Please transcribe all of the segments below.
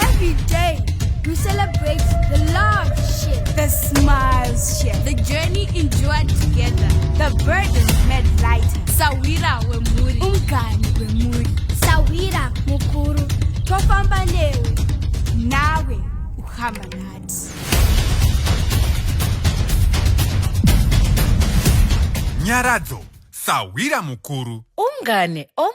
Every day we celebrate the love shit, the smiles shit, the journey endured together, the burdens made lighter. Sawira wemuri, umgani wemuri, sawira mukuru, tofamba newe, nawe uhamba nati. Nyaradzo, sawira mukuru. Umgane, om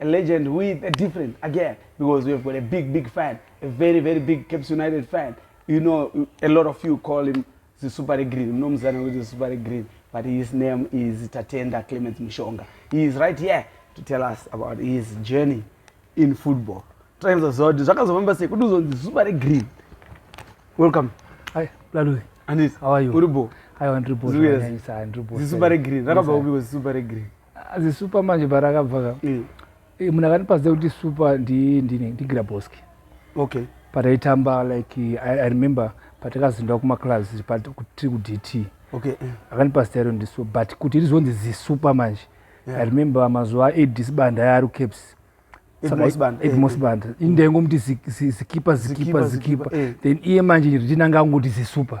a legend with a different again because we have got a big big fan a very very big caps united fan you know a lot of you call him the super green munomuzana kuti the super green but his name is tatenda clemens mushonga he is right here to tell us about his journey in football taizaziva kuti zvakazofamba sei kuti uzonzi zuva regreen welcome hi lalue andis how are you uribo aiwa ndiribo zviuya zisuva regreen rakabva kupiko zisuva regreen azi super manje parakabva ka mm. eh, munhu akandipaziva kuti super ndigiraboski okay pataitamba like I, i remember patakazindwa kumaclass tiri kudt okay. Eh. akandipa zita iro ndisu but kuti rizonzi zisuper manje yeah. i remember mazuva aedis banda yaari caps edmos banda indaingomti zikipa zikipa zikipa then iye manje ritinanga angoti zisuper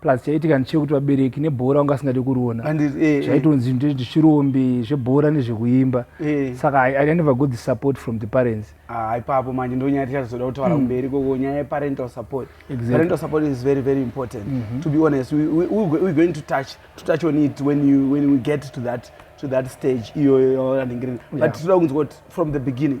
plus chaitika ndichekuti vabereki nebhora wanga asingadi kuriona eh, zvaitonzi eh. ndezvechirombe zvebhora nezvekuimba eh. saka i never got the support from the parents ah, ipapo manje ndonyaya tichazoda kutaura hmm. kumberi koko nyaya yeparental support parental support is very very important mhm. to be honest we're going to touch to touch on it when you when we get to that to that stage iyoyo yaanenge but tinoda kunzwa kuti from the beginning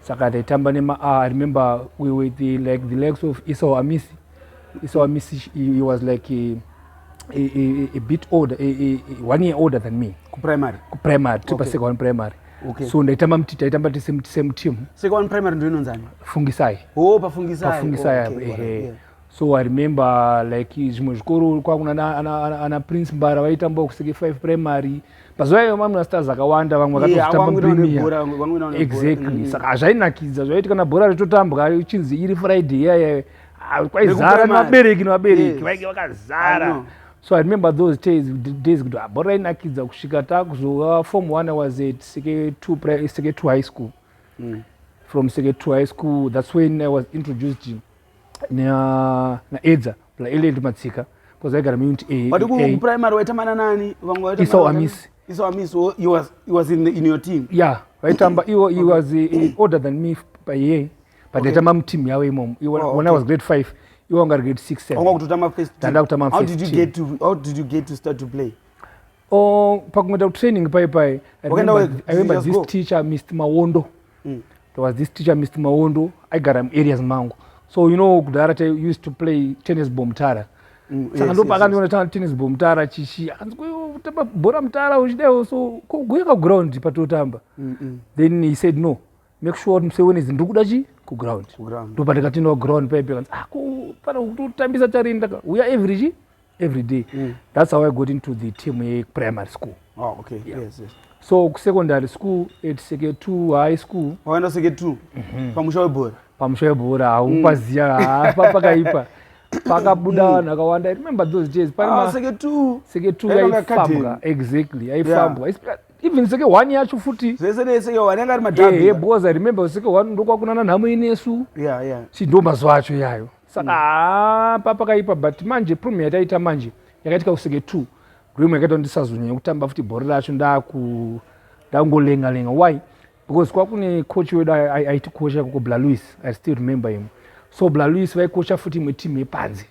saka taitamba nema a ah, i remember we were the, like the legs of esau amisi esau amisi he was like a, a, a, a bit older a, a, a, one year older than me kuprimary kuprimary tiri okay. pasecond primary Okay. so ndaitamba mti taitamba tese same team seka one primary ndo inonzani fungisai oh pafungisai pafungisai oh, okay. ehe yeah. so i remember like zvimwe zvikoro kwakuna ana, ana, ana, ana prince mbara vaitamba kuseke 5 primary mm. mazuva iwayo mamwe mastars akawanda vamwe vakatozotamba premier exactly mm. saka hazvainakidza zvaiiti kana bhora ritotambwa uchinzi iri friday iyayayo ah, kwaizara nevabereki nevabereki vainge vakazara so i remember those days days kuti ah, bhora rainakidza kusvika takuzova form one was at seke two seke two high school mm. from seke two high school that's when i was introduced naedza blaele ndi matsika bcause aigara muunit but kuprimary waitamana nani vamwe vaisau amisi isau amisi he was in, in your team yeah vaitamba iwo he was eh, older than me by year but ndaitamba okay. muteam yavo imomo oh, okay. when i was grade five iwo anga ari grade six seven ndakutamba first team. How did you get to, how did you get to start to play Oh, pakungoita kutraining pai pai I remember, I remember this go. teacher Mr. Mawondo mm. there was this teacher Mr. Mawondo aigara muareas mangu so you know kudhara ta used to play tennis ball mutara mm, saka yes, ndopa akandiona yes, yes. ta tennis ball mutara chichi akanzi kutamba bhora mutara uchidaio so kuguya kaground patotamba mm -mm. then he said no make sure kuti musi wenezi ndiri kuda chii kuground ndopa ndikatinoa ground paipe kanzi ah kufana kutotambisa tarini taka uya every chii every day mm. that's how i got into the team yeprimary school oh, okay. yeah. yes, yes. so kusecondary school at seke two high school waenda seke two mm -hmm. pamusha webhora pamusha webhora haupaziva mm. pakaipa pakabuda mm. vanhu akawanda remember those days paiseke ah, two seke two yaifambwa exactly yaifambwa yeah even seke one yacho futi zvese neseke one yanga ari madhabi yeah, yeah, because i remember seke one ndokwakunana nhamo inesu yeah, yeah. si ndo mazuva acho iyayo saka mm. haa papakaipa but manje prom yataita manje yakaitika kusenge two grim yakaita ndisazonyanya kutamba futi bhori racho ndaku ndakungolenga lenga why because kwakune coach wedu aiti coach yakoko bla louis i still remember him so bla louis vaikocha futi imwe team yepanze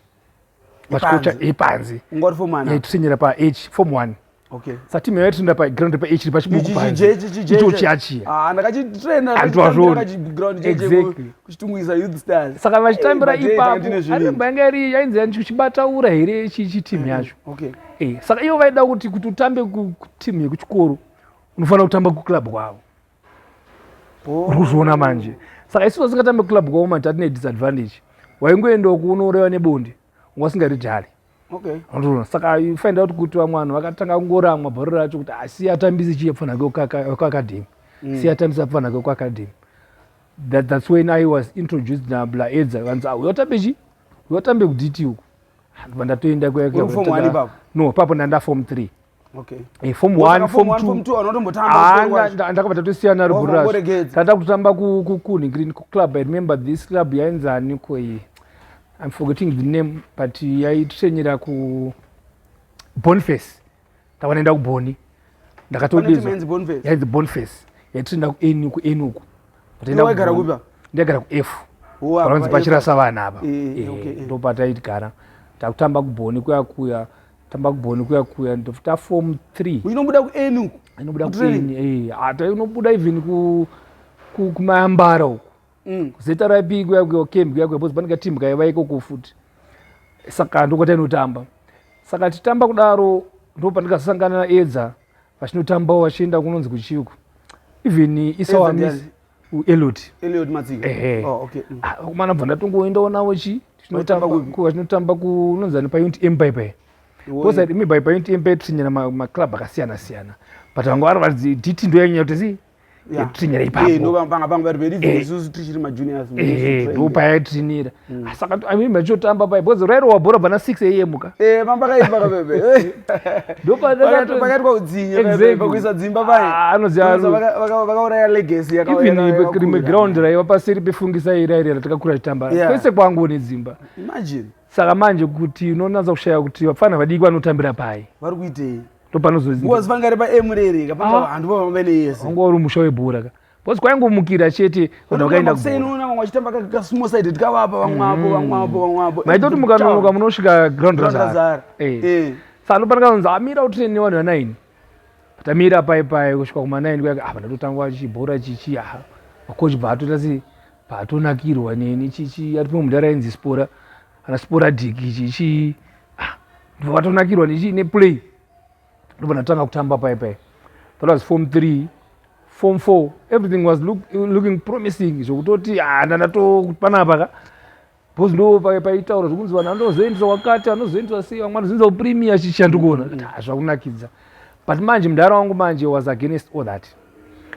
vachikocha yepanze ungori form one eh, tusenyera pa h form one Okay. Sati mwe yatenda pa ground pa ichi pachi buku pa. Ichi ichi ichi. Ichi achi. Ah ndakachi trainer antu azvo. Ndakachi ground ichi. Exactly. Kuchitungwiza youth stars. Saka vachitambira ipapo. Ari mbanga iri yainzi yanchi kuchibata ura here ichi ichi team mm, yacho. Okay. Eh saka iyo vaida kuti kuti utambe ku team yekuchikoro unofanira kutamba ku club kwavo. Oh. Uri kuzviona manje. Saka isu vasingatambe club kwavo mati atine disadvantage. Waingoendawo kuunorewa nebonde. Wasingaritari. okay anotona saka you find out kuti vamwe vanhu vakatanga kungoramwa bharo racho kuti asi ah, atambisi chii apfana ke kuacademy mm. si atambisi apfana ke kuacademy that, that's when i was introduced nabla edza vanzi ah, uyotambe chii uyotambe kuditi uku ndobva ndatoenda no papo ndanda form three Okay. Eh, form 1 form 2 anga ndakabva tatosiyana ruburas tata kutamba kukuni green club i remember this club yainzani ko iyi i'm forgetting the name but yaitrenyera ku bonface ndakanaenda kuboni ndakatoyainzi bonface yaitrenda kueni kueni uku ndaigara kuefu panonzi pachirasa vana apa eh, eh, ndopataitigara takutamba kuboni kuya kuya tamba kubhoni kuya kuya ndofuta form three inobuda kueni uku inobuda kueni eh, hata inobuda even kumayambara uku mm. zeta raipi kuya kuya kembi kuya kuya bcoz panenge team kaiva ikoko futi saka ndokwata inotamba saka titamba kudaro ndo pandikazosangana naedza vachinotambawo vachienda kunonzi kuchiuku even isawamis ueliot eliot matsika ehe oh, okay. mm. Ah, kumana bva ndatongoendawo navo chi Vaitamba kupi? tinotamba kunonzani paunit empire paye Iwo- kosa imi by paunit empire tichinyana maclub akasiyana siyana but vanga vari varidzi diti ndo yanyanya kuti zi Yeah. tichinyana Eh, ipapo ndopanga panga pari very Eh. isusu tichiri majuniors ehe ndo payaitinira Mm. Ah, saka I mean machotamba pai because rairowa bhora bana 6 am ka eh mamba kai baka bebe ndo pa da to pakati kwa udzinye bebe pakuisa dzimba pai ah, anoziva vaka vaka uraya legacy yaka even ibe krime ground rai vapa seri pefungisa ira ira takakura chitamba kwese kwangu ne dzimba imagine saka manje kuti unonanza kushaya kuti vafana vadiki vanotambira pai vari kuitei ndo panozozi ngozi vangari pa emurere ka panga ah. handu vamene yese ungori musha webhora ka Boss kwaingomukira chete kana ukaenda kuseyi unoona vamwe vachitamba ka small side tikavapa vamwe apo mm. vamwe apo vamwe apo maita kuti mukanonoka munosvika ground razara eh. eh. saka anofanira kunzi amira utrine nevanhu vanaini tamira pai pai kusvika kumanaini kuya apa ah, ndatotangwa chibhora chichi aha makochi bva atoita sei bva atonakirwa neni chichi ati pamwe mudhara ainzi spora ana spora diki chichi ah, ndvatonakirwa nechi neplay ndobva ndatanga kutamba pai pai that was form three form four everything was look, looking promising zvokutoti ah, ndandatopanapa ka bcause ndo paitaura zvokunzi vanhu anozoendeswa kwakati anozoendeswa sei vamwe anozoendeswa kupremier chicha ndikuona mm. ah, zvakunakidza but manje mudhara wangu manje was against all that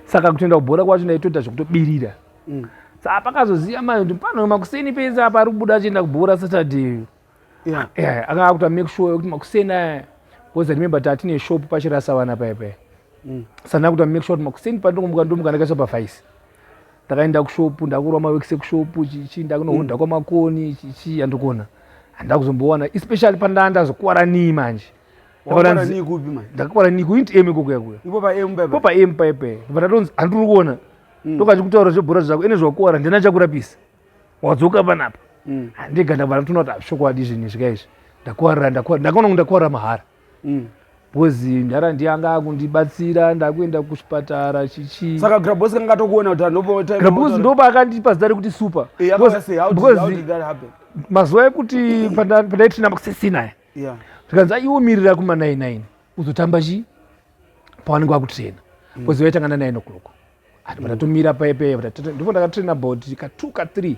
saka kutoenda kubhora kwacho ndaitoita zvokutobirira mm. saa pakazoziva mai kuti pano makuseni pese apa ari kubuda achienda kubhora saturday yeah. yeah. akanga akuta make sure yekuti makuseni aya because remember tatine shop pachirasa vana paya paya mm. sandina kuta make sure kuti makuseni pandingomuka ndomuka ndakaisa pafaisi ndakaenda kushopu ndakurwa mawekise kushopu chichi ndakunohudha mm. kwamakoni chichi andikona handina kuzombowana especially pandaa ndazokuvara nii manje ndakakuvara nii kuinti emu ikokuya kuya po paemu paipe ndatonzi handiri kuona mm. ndokachikutaura zvebhora zvako ene zvakukuvara ndina chakurapisa wadzoka panapa mm. handiga ndabva ndatoona kuti hazvishokwadi zvinhu izvi kaizvi ndakuwarira ndakaona kunge ndakuwarira mahara mm. bhozi ndara ndiyanga akundibatsira ndakuenda kuchipatara chichi saka grabos kanga atokuona kuti anopoagrabos ndo paakandipa zita rekuti super eh, mazuva ekuti pandaitinamba kusesinaya zvikanzi aiwo mirira kuma 99 uzotamba chii pawanenge wakutrena bhozi mm. vaitanga na 9 o'clock ati patatomira paye paye ndipo ndakatraina about ka two ka three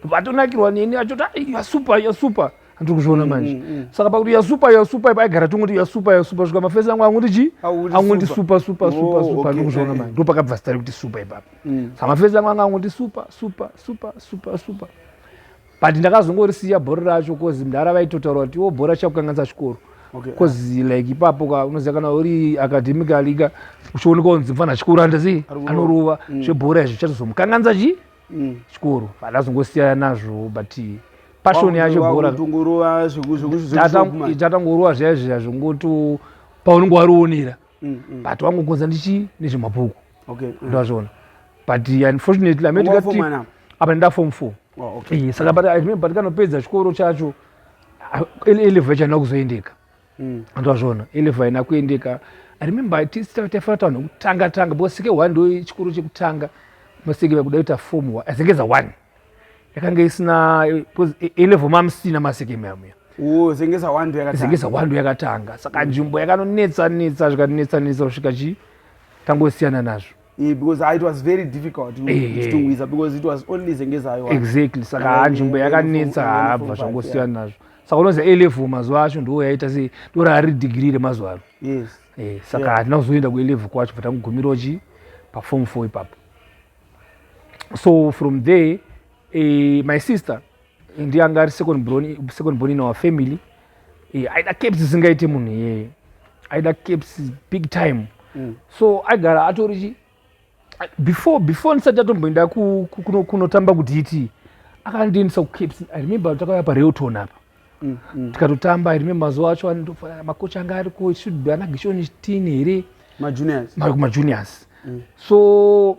vatonakirwa neni achoti ah, yasupa yasupa andiri kuzviona mm, manje mm, mm. saka pakuti yasupa yasupa ipo aigara tongoti yasupa yasupa svika mafesi angu anguti chi anguti supa supa supa oh, supa andiri kuzviona eh, eh. manje ndo pakabva zita rekuti supa ipapo saka mafesi angu anga anguti supa supa supa supa supa but ndakazongorisiya bhora racho bcause mdhara vaitotaura kuti iwo bhora chakukanganisa chikoro bcause okay. like ipapo ka unoziva kana uri academically ka uchioneka kunzi mfana chikoro handizii anorova mm. zvebhora izvi chatozomukanganisa chii mm. chikoro but ndazongosiyana nazvo but passion yacho bhoratatangorova zviya zviya zvongoto paunenge warionera mm, mm. but wangokonza ndichi nezvemabhuku ndazviona but unfortunately ametikati apa ndida form four oh, okay. saka but, I mean, but kanopedza chikoro chacho eleva ichaenda kuzoendeka mm. ndozvona eleva haina kuendeka i remember taifanira tavanhu kutanga tanga because sike one ndo chikoro chekutanga masike vakuda kuita form one azengeza one yakanga isina because elevo mamusina masike mamuya zengeza one ndo yakatanga saka nzvimbo yakanonetsa netsa zvikanetsa netsa kusvika chii tangosiyana nazvo Yeah, because it was very difficult kuchitungwiza because it was only zengezayo exactly saka haa nzvimbo yakanetsa haabva zvangosiyana nazvo saka unoziva a level mazuva acho ndiwo yaita sei ndoraari degree remazuva ano yes eh, saka hatina yeah. kuzoenda kue level kwacho bva tangogumirawo chi paform four ipapo so from there eh, my sister ndiye anga ari second born second born in our family eh, aida caps zisingaite munhu iyeye aida caps big time mm. so aigara atori chi before before ndisati atomboenda kunotamba kuti iti akandiendisa kucaps i remember takauya pareoton apa mm, mm. tikatotamba i remember mazuva acho makocha anga ariko should be ana gishoni tini here majuniors so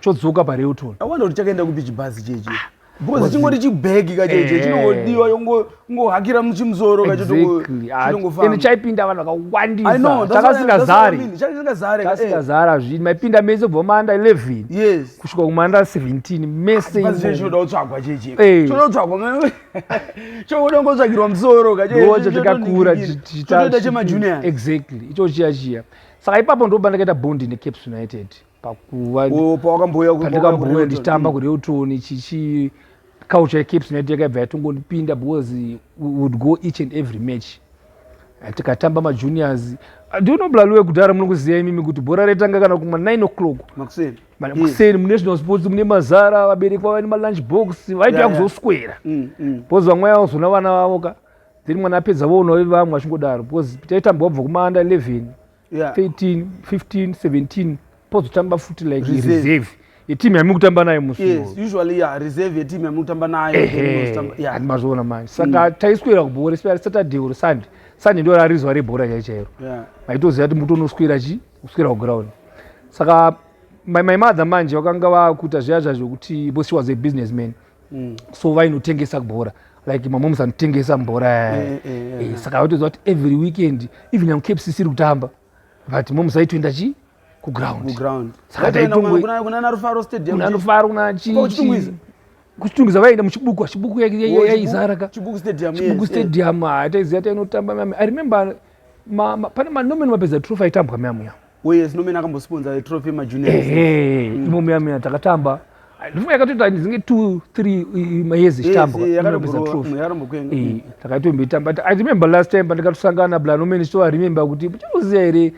chodzoka pareuton awanda kuti chakaenda kupi chibhazi chechi because chingori chibhegi kacheche eh. chinongodiwa yongohakira muchimusoro kachotongofamba chaipinda vanhu vakawandisatakasingazari takasingazari hazvii maipinda mese kubva maanda 11 kusvika kumaanda 17 mesechoda kutsvagwa cheche eh. choda kutsvagwa choda kungotsvagirwa musoro kacheocho tikakura chitoita chemajunior exactly ichochiya chiya saka ipapo ndoba ndakaita bondi necaps united mm. pakuva pandakambouya ndichitamba mm. kureutoni chichi culture yecaps united yakaibva yatongondipinda because would go each and every match tikatamba majuniors ah, ndinoblaliwe kudhara munokuziva imimi kuti bhora retanga kana kuma 9 o'clock makuseni mm. munational sports mune mazara vabereki vava nemalunch box vaitoya kuzoswera mm, mm. bcause vamwe vazona vana vavo ka then mwana apedza voona vevamwe vachingodaro bcause taitamba wabva kumanda 11 yeah. 13 15 17 pozotamba futi like reserve, reserve. yetimu yamuri kutamba nayo musiusually ya reserve yetimu yamuri kutamba nayohandi mazoona manje saka mm. taiswera kubhora especially saturday or sunday sunday ndo rarizuva rebhora chai chairo maitoziva kuti mutonoswera chi kuswera kuground saka my, my mother manje vakanga vakuita zviya zvazvokuti because she was a business man mm. so vainotengesa bhora like mamoms anotengesa mbora eh, eh, eh, saka vaitoziva kuti every weekend even yangu caps isiri kutamba but moms aitoenda chii kuground saka taitongokunana rufaro stadium kunana rufaro kuna chii kuchitungiza vaienda muchibuku chibuku yaizara ka chibuku stadium ah, taiziva tainotamba mami i remember pane manomeno mapedza trufa aitambwa mami yavo Oh yes, nomena akambosiponza trophy majunior. Ehe, mm. imomo yamina takatamba. Ndifuma yakatoita zinge 2 3 mayezi chitamba. Yes, yakatombeza trophy. Mm, Yakarombokuenda. Eh, takaitomboita but I remember last time pandikatosangana bla nomena so I remember kuti muchikuziya here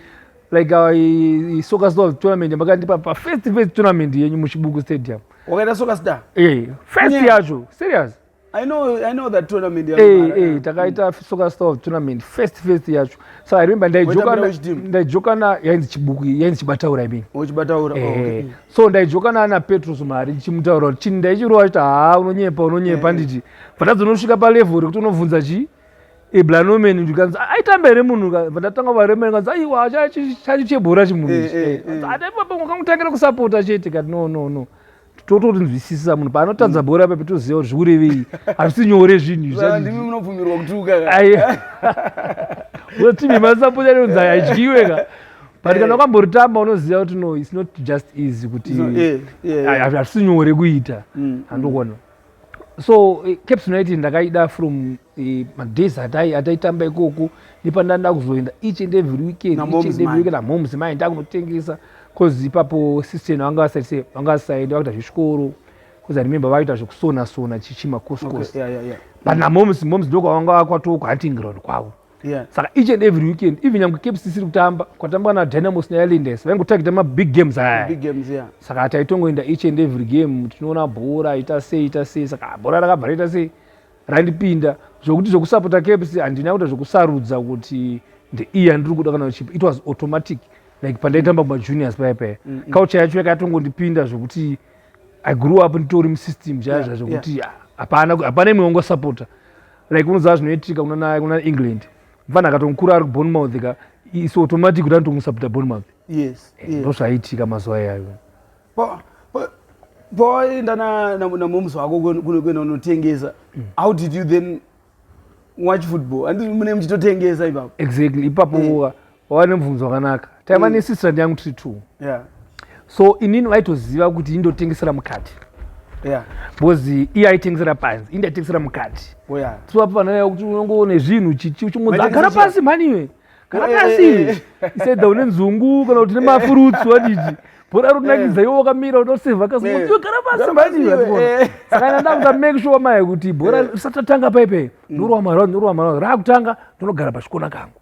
like our uh, soccer star tournament makandipa pa first first tournament yenyu muchibuku stadium. Wakaita soccer star? Eh, first yacho. Serious? I know, I know that tournament ya hey, eh, hey, eh, takaita mm. soccer star of tournament first first yacho so i remember ndaijoka ndaijoka na yainzi chibuku yainzi chibataura i mean oh chibataura eh, oh, okay. Eh, so ndaijoka na ana petros mari ndichimutaura kuti chini ndaichirova kuti ha unonyepa unonyepa eh. nditi pandazonosvika pa level rekuti unobvunza chi iblanomeni ndikanzi aitamba here munhu vandatanga varemeni kanzi aiwa chacho chebhora chimunhu ichi ataipapo ngakangutangira kusapota chete kati no no no totorinzwisisa munhu paanotadza bhora ipapi toziva kuti zvikurevei hazvisi nyore zvinhu izvandimi munobvumirwa kutuka unotivi masaponya neunza haidyiwe ka but kana eh. ukamboritamba unoziva kuti no its not just easy kuti eh, eh. hazvisi nyore kuita handokona mm. so caps united ndakaida from Eh, madays atai ataitamba ikoko nepandaenda kuzoenda each and every weekend each and every weekend amoms mai ndakunotengesa bcause ipapo sister ino vanga vasati vanga vasaenda vakuita zvechikoro bcause remember vaita zvekusona sona chichima coscos but namoms moms ndokwavanga vakwatoo kuhunting ground kwavo saka each and every weekend even nyange caps isiri kutamba kwatambwa nadynamos neilindes vaingotagita mabig games aya saka taitongoenda each and every game tinoona bhora ita sei ita sei saka bhora rakabva raita sei randipinda zvokuti zvokusapota kfc handina kuita zvokusarudza kuti ndeiyi yandiri kuda kana chipo it was automatic like pandaitamba kumajuniors paya paya mm, mm. culture yacho yakatongondipinda zvokuti i grew up nditori musystem chaya zva zvokuti ah, hapana hapana imwe wangosapota like unoziva zvinoitika kuna england mfana akatomukura ari kubonmouth ka is automatic kuti anotomusapota bonmouth eh, ndozvaiitika mazuva iyayo pawaenda namoms wako kuenda unotengesa mm. how did you then watch football andii mune muchitotengesa ipapo exactly ipapo eh. wava nemubvunzo wakanaka taiva mm. nesistrand yangu tiri two so inini vaitoziva kuti indotengesera mukati because iye aitengesera panzi indi aitengesera mukati oh, so apo vanaa kuti unongoone zvinhu chichi uchingonzi agara pasi mhani iwe kana eh, kasi eh, eh, said une nzungu kana kuti nemafruits wadidi bhora runakidza iwo wakamira unoseva kasiyogara pasisaka ndakuda make sure maye kuti bhora risatatanga paipe ndorwa marau ndorwa marau raakutanga ndonogara pachikona kangu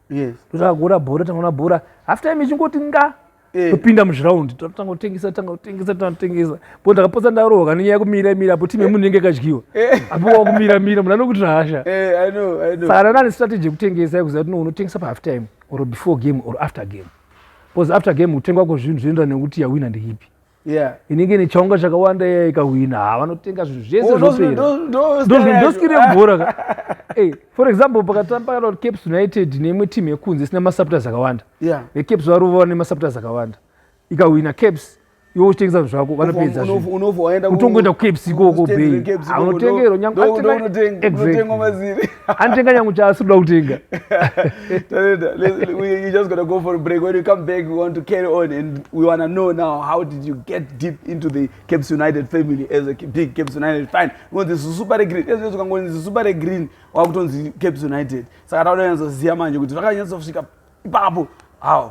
ndosaka kuona bhora tangaona bhora after time ichingoti nga Eh. topinda muzviraundi tatanga kutengesa tanga kutengesa tanga kutengesa bo ndakapotsa ndarohwa nenyaya yekumira mira apo timu yemunhu inenge ikadyiwa eh. apo wakumira mira munhu anokuti hasha eh, saka ndana nestrategy yekutengesa yekuziva kuti no unotengesa pahalf time or before game or after game because after game kutengwa kwezvinhu zvinoenderana nekuti yawina ndeipi yeah inenge nechaunga chakawanda iya ikahwina ha vanotenga zvinhu zvese oh, zvoperadoskire bhora ka eh, for example pakatamba caps united neimwe team yekunze isina masupporters akawanda yeah. ecaps varova vane masupporters akawanda ikahwina caps iwe uchitengesa zvinhu zvako vanopedzakutongoenda kucaps ikoko bei anotengerwa nyange anotenga nyangu chaasi kuda kutenga you just gonna go for a break when you come back we want to carry on and we want to know now how did you get deep into the caps united family as a big caps united fine kunzi zisupare green ezvio zvikangonzi zisupare green wakutonzi caps united saka tauda nyatsoziva manje kuti vakanyatsokusvika ipapo how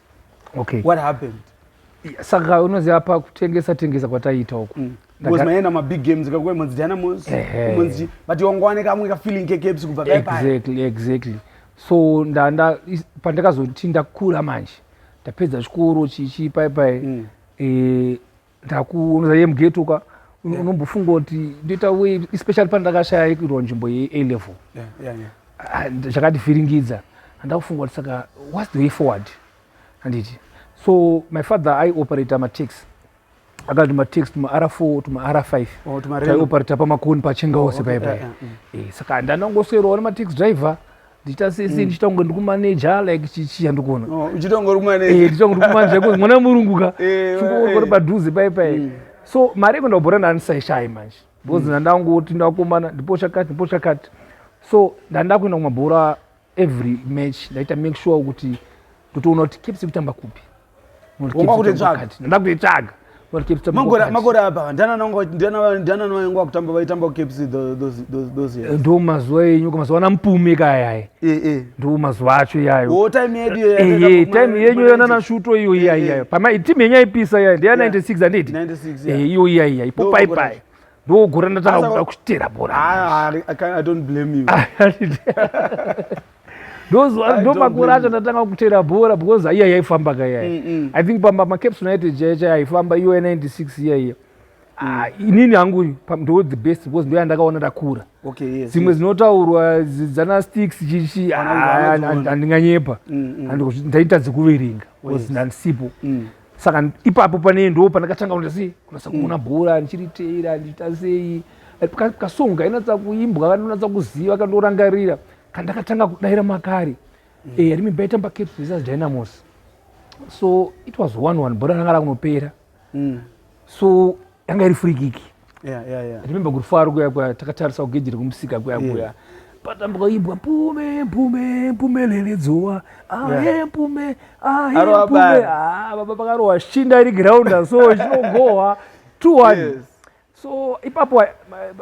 okay what happened saka unoziva pa kutengesa tengesa kwataiita uku mm. because maenda mabig games kakuya monzi diana mos monzi but wangowane kamwe kafeeling kekeps kubva exactly exactly so ndanda pandakazoti ndakura manje ndapedza chikoro chichi pai pai mm. eh, ndakuunoza ye mugeto ka unombofunga kuti ndoita wei especially pane ndakashaya yekuitwa nzvimbo yea level ah, zvakativhiringidza handakufunga kuti saka whats the way forward handiti so my father aioperator matax akati matax tumaara four tumaara five oh, taioperator pamakoni pachengaose paipai eh, saka ndanangoswerwa nematax driver ndichita sese mm. ndichitonge ndikumaneja like chichiya ndikuona oh, uchitonge uri kumaneja eh, ndichitonge ndikumaneja because mwana murungu ka eh, chikokori eh. padhuze pai pai mm. so mari yekuenda kubhora ndandisaishayi manje because mm. ndandangoti ndakomana ndipo chakati ndipo chakati so ndandida kuenda kumabhora every match ndaita make sure kuti totoona kuti kepsi kutamba kupi wanga kutoitsvaga ndakutoitsvaga makore apa ndananavainga vakutamba vaitamba kucaps ndo mazuva enyu mazuva ana mupume kayaya eh, eh. ndo mazuva acho iyayotaime eh, yenyu yananashuto iyo iyaiyayo timu yenyu yaipisa iya ndeya 96 anditi iyo iyaiya ipo paipai ndogora ndatanga kuda kuchitera bora ndomakore acho ndatanga kutera bhora because aiya yaifamba ka yaya mm, mm. i think pamba macaps united chaiya chaya yaifamba iyoya 96 iya iya Ah, inini hangu ndo the best because ndo yandakaona ndakura dzimwe dzinotaurwa dzana sticks chichi handinganyepa mm, mm. ndaita dzekuverenga bcause ndandisipo mm. saka ipapo pane ndo pandakatanga kuita sei kunasa kuona bhora ndichiriteera ndichiita sei kasonga inatsa kuimbwa kanonatsa kuziva kandorangarira kandakatanga kudaira makari mm. eh, rimi baitamba cape visas dynamos so it was one one bhora ranga rakunopera mm. so yanga iri free kick yeah, yeah, yeah. remember kuti faro kuya kuya takatarisa kugeji rekumusika kuya kuya yeah patambuka imbwa mpume mpume mpume leledzowa aye mpume aye mpume ah baba pakarowa shinda iri ground so chinogohwa 2 1 so ipapo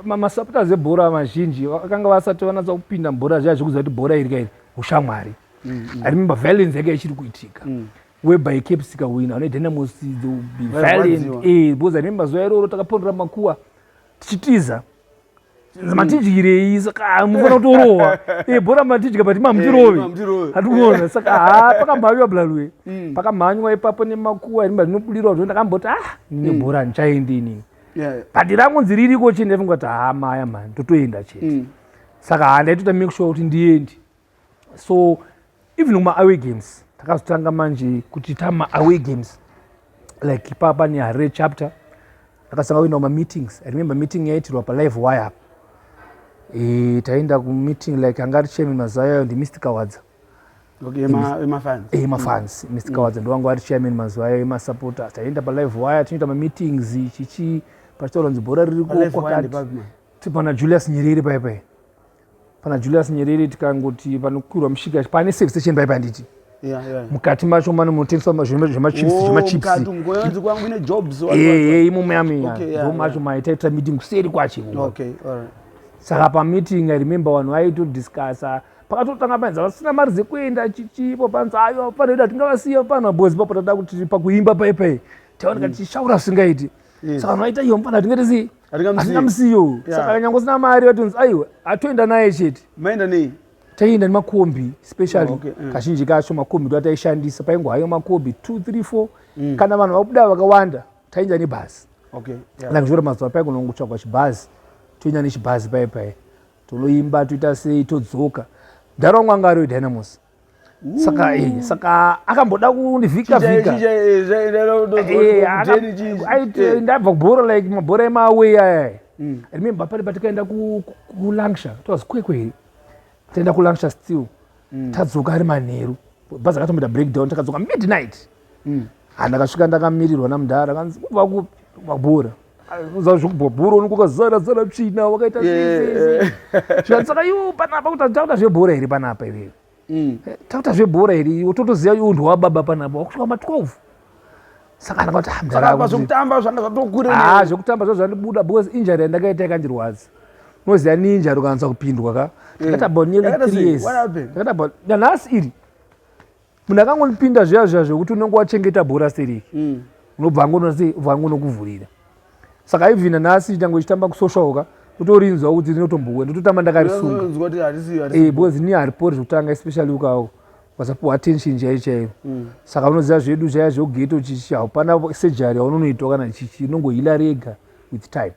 masupporters ebhora mazhinji vakanga vasati vanatsa kupinda mubhora zviya zvekuziva kuti bhora iri kairi ushamwari mm, mm. i remember violence yake ichiri kuitika mm. whereby caps ikawina une dynamos be violent eh, because i remember zuva iroro takapondera makuwa tichitiza matidyirei saka mufana kutorohwa e bhora matidya but mamutirove hatikuona saka ha pakamhanywa blalue mm. pakamhanywa ipapo nemakuwa rimba zvinobudirwa zvo ndakamboti ah ndine mm. bhora handichaendi inini but rangu nzi ririko chii ndaifunga kuti ha maya mani totoenda chete mm. saka ha ndaitota make sure kuti ndiendi so even kumaaway games takazotanga manje kuti tamaaway games like ipapa nehare chapter takasanga kuenda kumameetings i remember meeting yaitirwa palive wire apa e, taenda kumeeting like anga ari chairman mazuva yayo ndimr kawadza Okay, emafans eh, mr kawadza mm. ndowanga ari chairman mazuva ayo emasupporters taienda palive wire tinoita mameetings chichi pachitaura nzi bhora riri kuokwakati tipana julius nyerere paipai pana julius nyerere tikangoti panokwirwa mushika pane safe station paipa handiti Yeah, yeah. mukati macho mane munotengeswa ma- zvema- zvemachips Oh, zvemachips mukati umu, ngoya nzi kwangu ine jobs, what, what, what. ehe imomo yamiya Okay, yeah, ndo macho maitaitira meeting kuseri kwacho imomo. Okay, all right. saka pameeting i remember vanhu vaitodiscussa pakatotanga panzi vasina mari dzekuenda chichipo panzi ayo panoita tingavasiya pano bozi papo tada kuti pakuimba paipai taoneka tichishaura zvisingaiti saka vanhu vaita iyo mfana tingati sei hatingamusiyo saka nyange usina mari vatonzi aiwa atoenda naye chete maenda nei taienda nemakombi specially oh, okay. mm. kazhinji kacho makombi ndo ataishandisa paingo hayo makombi two three four mm. kana vanhu vakuda vakawanda tainda nebhazi okay. yeah. like zvora mazuva paingo nongotsvagwa chibhazi toinda nechibhazi paye paye tonoimba toita sei todzoka ndaro mwangari wedynamos saka eh, saka akamboda kundivhika vhika eh, eh, ndabva kubhora like mabhora emaaway aya mm. remember pari patikaenda kulangsha towas kwekwe here taenda kulangsha still mm. tadzoka ari manheru bhazi akatomboita breakdown takadzoka midnight mm. Ah, ndakasvika ndakamirirwa namudhara kanzi kubva kupi mabhura uza zvekubhobhura unokuka zara zara tsvina wakaita zvikanzi saka iwo panapa kuti takuta zvebhora here panapa iwewe mm. eh, takuta zvebhora here iwo totoziva unhu wababa panapa wakusvika ma 12 saka ndakati ah, mdharaapa zvekutamba zvanga zvatokuree ah, zvekutamba zva zvandibuda because injari yandakaita yakandirwadza unoziva ni injari ukanatsa kupindwa ka ndakati mm. about nearly three years ndakati about nanhasi iri munhu akangonipinda zviya zviya zvekuti unenge wachengeta bhora stereki mm. unobva angonokuvhurira saka even nhasi tange ichitamba kusocialka utorinzwa kuti rinotombowe ndototamba ndakarisungabecoz eh, ni haripori zvekutanga especially ukawo wasapuwa attention chaiyo chaiyo mm. saka unoziva zvedu zvaya zvegeto chichi haupana surgery yaunonoitwa kana chichi inongohila rega with time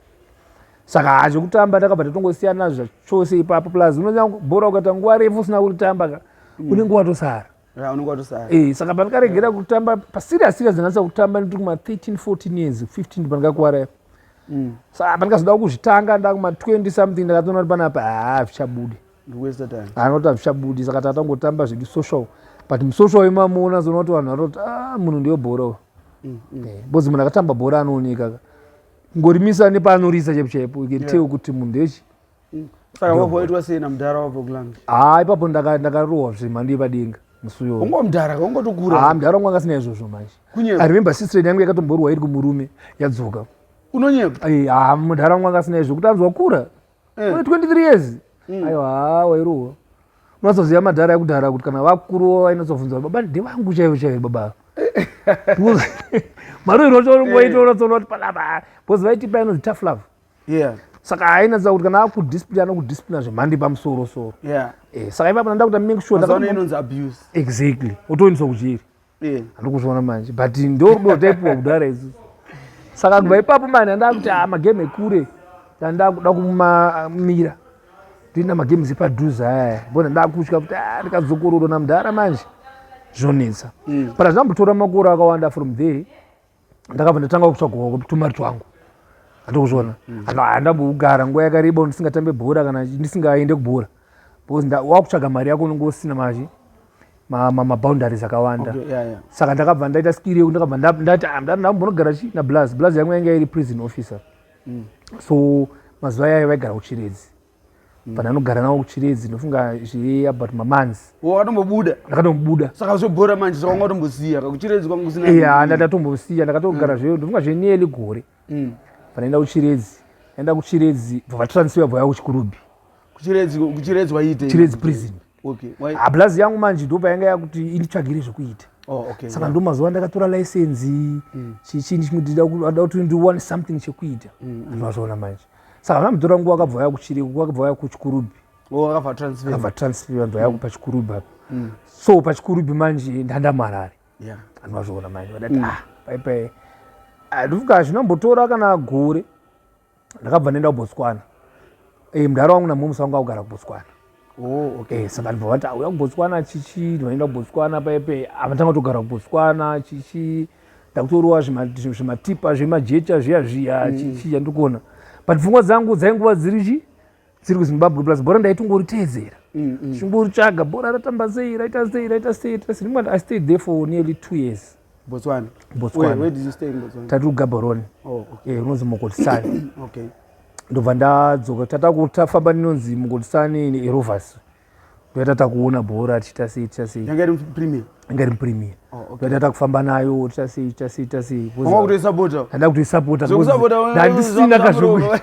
saka hazvekutamba takabva tatongosiyana zvachose ipapo plus unonyabhora ukaita nguva refu usina kuritamba ka mm. unenge watosara eh, saka pandakaregera kutamba paserious serious ndinatsa kutamba ndiri kuma 13 14 years 15 pandikakuwara ipo mm. saka pandikazoda kuzvitanga ndakuma 20 something ndakatoona kuti panapa haa zvichabudi anoti hazvichabudi saka tatangotamba zvedu social but musocial imamuona zoona kuti vanhu vanoti ah, munhu ndiyo bhora mm, eh, bozi munhu akatamba bhora anooneka ka ngorimisa nepaanorisa chaipo chaipo you can tell kuti munhu ndechi mm. saka vavo vaitwa sei namudhara wavo kulanga haa ah, ipapo ndakarohwa zvemhando yepadenga musuyo ungo mudhara ungotokura haa ah, mudhara wangu angasina izvozvo manje i remember sister yangu yakatomborwa iri kumurume yadzoka unonyepa haa eh, ah, mudhara wangu angasina izvo kuti anzwa kura eh. mune 23 years mm. ayo haa wairuwa unozoziva madhara ekudhara kuti kana vakuruwo vainozobvunza baba ndevangu chaivo chaivo baba mari unotoongoita unotoona kuti panapa bcause vaitipa inonzi tough love yeah saka ainatsa kuti kana akudisplina anokudisplina zvemhandi pamusoro soro yeah. eh, saka ipapa nda kuta make sure inonzi abuse exactly otoendiswa kuchiri eh. ndikuzviona manje but ndorudo taipiwa kudhara isu saka kubva ipapo mani andakuti ah, magame ekure andakuda kumamira toina magames epadhuze ayaya bona ndakutya kuti ah, ndikadzokororo namudhara manje zvonetsa mm. but azvambotora makore akawanda from there ndakabva ndatanga kutsvagawo tumari twangu andokuzviona mm. andambokugara nguva yakareba ndisingatambe bhora kana ndisingaende kubhora because wakutsvaga mari yako unenge usina mazvi maboundaries akawanda saka ndakabva ndaita skiri yekuti ndakabva ndati ah, ndambonogara chi nablaz blaz yangu yanga iri prison officer mm. so mazuva yayo vaigara kuchiredzi mm. but anogara nawo kuchiredzi ndofunga zve about mamanzi oh, akatombobuda ndakatombobuda saka zvobhora manje saka wanga utombosiya kakuchiredzi kwanga kusina ya ndakatombosiya ndakatogara mm. zveyo ndofunga zve nearly gore mm. panaenda kuchiredzi aenda kuchiredzi bva vatransfer bva yavo kuchikurubhi kuchiredzi kuchiredzi waite chiredzi prison okay. hablazi yangu manje ndo payanga yakuti inditsvagire zvekuita Oh, okay, saka yeah. ndo mazuva ndakatora license mm. chichini chimwe ndida kuti ndiwane something chekuita mm, mm. andimazviona manje saka vana mutora nguva akabva vaya kuchiriko nguva akabva vaya kuchikurubi oh, akabva transfer vanhu vaya kupa chikurubi apa mm. so pa chikurubi manje ndandamarari yeah. andimazviona manje vadati mm. ah, paipai andifika zvinombotora kana gore ndakabva ndaenda kubotswana e, eh, mdhara wangu namomusa wangu akugara kubotswana oh, okay. e, saka ndibva vati auya kubotswana chichi ndinoenda kubotswana paipe avatanga kutogara kubotswana chichi ndakutoriwa zvimatipa zvemajecha zviya zviya mm. chichi chandiri kuona but pfungwa dzangu dzainguva dziri chii dziri kuzimbabwe plus bhora ndaitongoritedzera mm, mm. chingoritsvaga bhora ratamba sei raita sei raita sei raita sei rimwe i stayed there for nearly two years botswana botswana tati kugaborone oh, eh, rinonzi mokotisani ndobva ndadzoka tata kutafamba ninonzi mokotisani nerovers toita takuona bhora tichita sei tichita sei yanga iri mupremier yanga iri mupremier oh, okay. toita takufamba nayo tichita sei tichita sei tichita sei wanga kutoisapota handa kutoisapota ndandisina kazvoku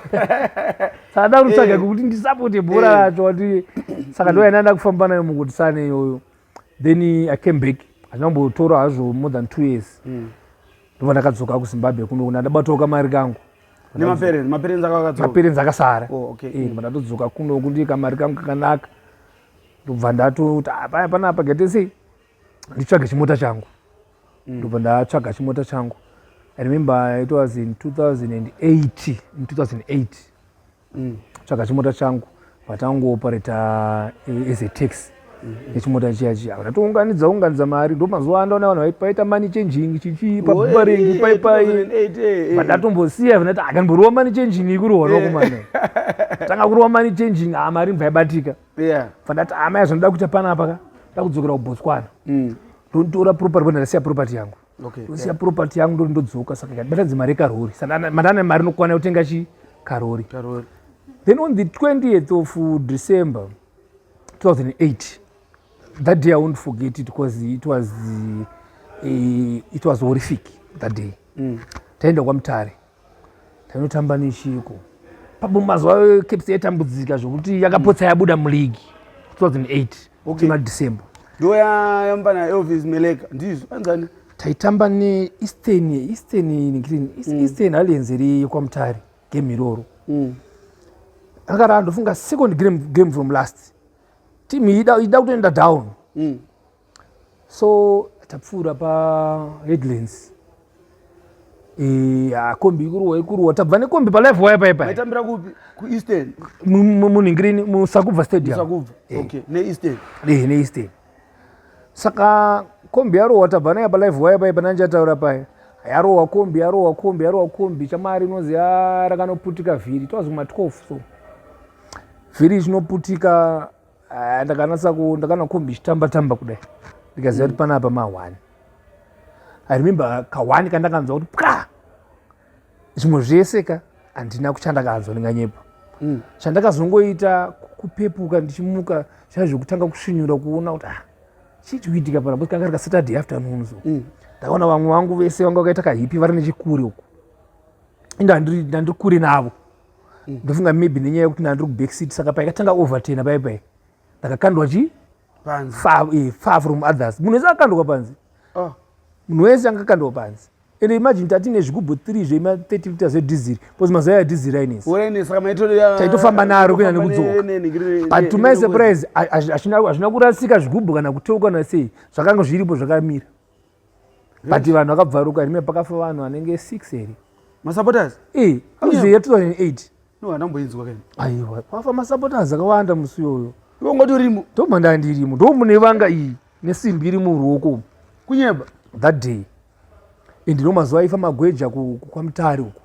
saka eh. kutsvaga kuti ndisapote bhora eh. racho ati saka ndoya ndanda kufamba nayo mukutisane iyoyo then i came back hazvina kumbotora hazvo more than two years hmm. ndobva ndakadzoka kuzimbabwe kuno kuna ndabatoka mari kangu nemapereni mapereni dzakakadzoka mapereni dzakasara oh, okay. eh, ndibva ndatodzoka kuno kuti kamari kangu kakanaka ndobva ndatoti ah, paya panapa gete sei nditsvage chimota changu mm. ndobva ndatsvaga chimota changu i remember it was in 2008 in 2008 mm. tsvaga chimota changu vatangoopareta eh, as a tax mm, mm. nechimota chiya chiya vatatounganidza unganidza mari ndo mazuva andaona vanhu vaita mani changing chichii pabubaringi paipai vandatombosiya vnati akanboriwa mani changing ikurohwa kumana tanga kurohwa mani changing haa mari mbaibatika vandati amaya zvanoda kuita panapa ka ndakudzokera kubotswana ndotora property bwana ndasiya property yangu okay, ndosiya yeah. property yangu ndori ndodzoka saka ikatibatadze mari yekarori mandana mari nokwana yotenga chi karori then on the 20th of december 2008 that day i won't forget it because it was uh, it was horrific that day mm. taenda kwamutare Tainotamba nechiko. Papo mazuva eCaps yaitambudzika zvokuti yakapotsa yabuda muligi 2008 okay. December. Ndiyo yayamba na Elvis Meleka ndizvo anzani? Taitamba ne Eastern Eastern Eastern, mm. Eastern mm. Alliance iri yekwamutare game iroro. Mm. Akara ndofunga second game, game from last. Team ida ida kutoenda down. Mm. so tapfuura paheadlands ya kombi ikuruwa ikuruwa tabva nekombi palife waya paya paitambira kupi kueastern munhingirini musakubva stadiumneeastern eh, saka kombi yarohwa tabva naye palife waya paya pane andichataura paya yarohwa kombi yarohwa kombi yarohwa kombi chamari inonzi rakanoputika vhiri it was kuma 12 so vhiri chinoputika Ah, ndakanatsa ku ndakanakomba ichitamba tamba kudai ndikaziva kuti panapa mahwani i remember kahwani kandakanzwa kuti pwa zvimwe zvese ka handina kuchandakanzwa ndinganyepa mm. chandakazongoita kupepuka ndichimuka zvaa zvekutanga kusvinyura kuona kuti ah, chii chikuitika pana kanga rika saturday afternoon so mm. ndakaona vamwe vangu vese vanga vakaita kahipi vari nechikure uku inda ndiri kure navo mm. ndofunga maybe nenyaya yekuti ndandiri kubackseat saka paikatanga overtena pai pai ndakakandwa chi far, eh, far from others munhu wese akakandwa panzi oh. munhu wese anga akakandwa panzi and imagine tatine zvigubhu 3 zvema 30 liters edizil bcause mazuva ya dizil ainetsataitofamba naro kuenda nekudzoka but to my surprise hazvina kurasika zvigubhu kana kuteuka kana sei zvakanga zviripo zvakamira but vanhu vakabvaruka rime pakafa vanhu vanenge six here masupporters e hauzive 2008 no handamboinzwa kani aiwa kwafa masupporters akawanda musi iyoyo iwe ungati urimo ndobva ndandirimo ndo mune vanga iyi nesimbi iri muruoko kunyeba that day and no mazuva aifa magweja kwamutare uko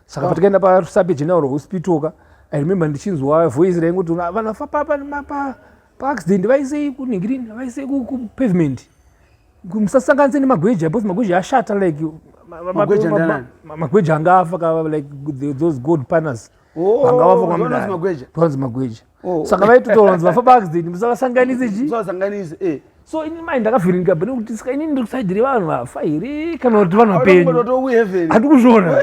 saka patikaenda parusape general hospital ka i remember ndichinzwa voice rainguti vanofa papa nemapa paaccident vaisei kunhingirini vaisei kupavement musasanganise nemagweja because magweja ashata like magweja anga afa kava like those gold paners oh, anga vafa kwamudaitonzi magweja oh. saka vaitotoonzi vafa paaccident musavasanganise chi eh. so ini mai ndakavhiringa bene kuti saka inini ndiri kusaidi revanhu vafa here kana kuti vanhu vapenyu hati kuzviona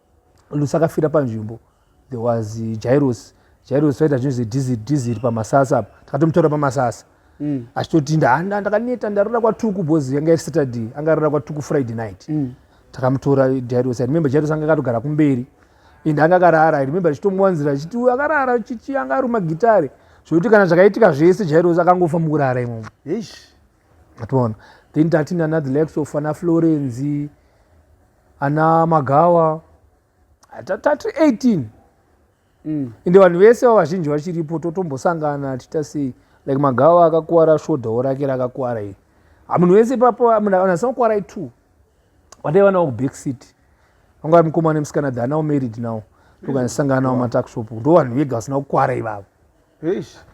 lusi akafira panzvimbo there was eh, jairos jairos vaita zvinhu zediziri pamasasa apa takatomutaura pamasasa mm. achitoti ndahanda ndakaneta ndarara kwatuku bcause yanga iri saturday anga arara kwatuku friday night mm. takamutora jairos i remember jairos anga akatogara kumberi and anga akarara i remember achitomuwanzira achiti uyo akarara chichi anga aruma gitare zvokuti kana zvakaitika zvese jairos akangofa mukurara imomo ationa then tati nanadhilexofa naflorenzi ana magawa tatatu 18 mm. ende vanhu vese va vazhinji vachiripo totombosangana tiita sei like magawa akakuwara shodhawo rake rakakuwara iri hamunhu ah, vese papo ah, munasamakuwarai two vandai vanawo kuback city vangava mukomana nemusikana the anawo married now tokanisanganawo matakshop ndo vanhu vega vasina kukwara ivavo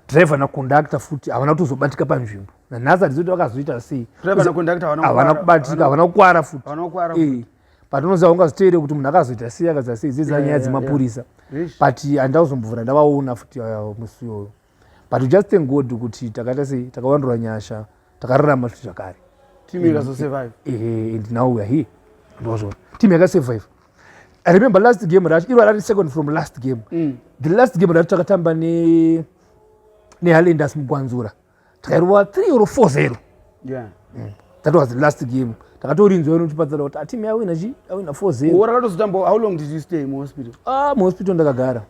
driver naconductor futi havana kutozobatika panzvimbo nanhasi handizoti vakazoita sei havana kubatika havana kukwara futi eh, but unoziva ungazoteere kuti munhu akazoita sei akazoita sei dzidza nyaya dzemapurisa but handida kuzombovhura ndavaona futi ah, musi iyoyo but just thank god kuti takaita sei takawandura nyasha takararama zvakare team yakazosurvive eh, eh, and now weare here ndozvona team yakasurvive I remember last game racho iro rari second from last game mm. the last game racho takatamba ne nehalenders mugwanzura takairova three or four zero yeah. mm. that was the last game takatorinzwa ino tipatsana kuti atimu ah, yawina chi awina four zero ora ratozotamba how long did you stay mu hospital ah mu hospital ndakagara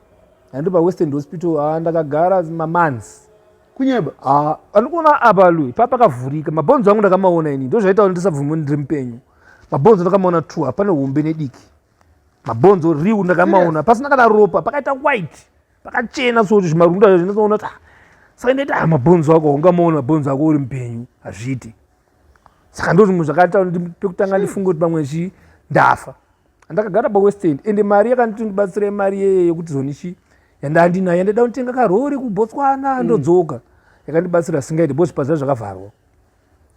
andi pa western hospital ah ndakagara ma months kunyeba ah andikuona apa lui pa pakavhurika mabhonzo angu ndakamaona ini ndozvaita kuti ndisabvume ndiri mupenyu mabhonzo ndakamaona two hapane hombe nediki mabhonzo riu ndakamaona pasina kana ropa pakaita white pakachena soti zvimarunda zvinoona kuti ah, saka ndaita ah, mabhonzo ako ungamaona mabhonzo ako uri mupenyu hazviiti saka ndo zvimwe zvakaita pekutanga ndifunge kuti pamwe chi ndafa andakagara pawestend ende mari yakanditi ndibatsira imari yeye yekuti zonichi yandandinayo yandaida kunditenga karori kubotswana mm. ndodzoka yakandibatsira singaiti bo zvipaza zvakavharwa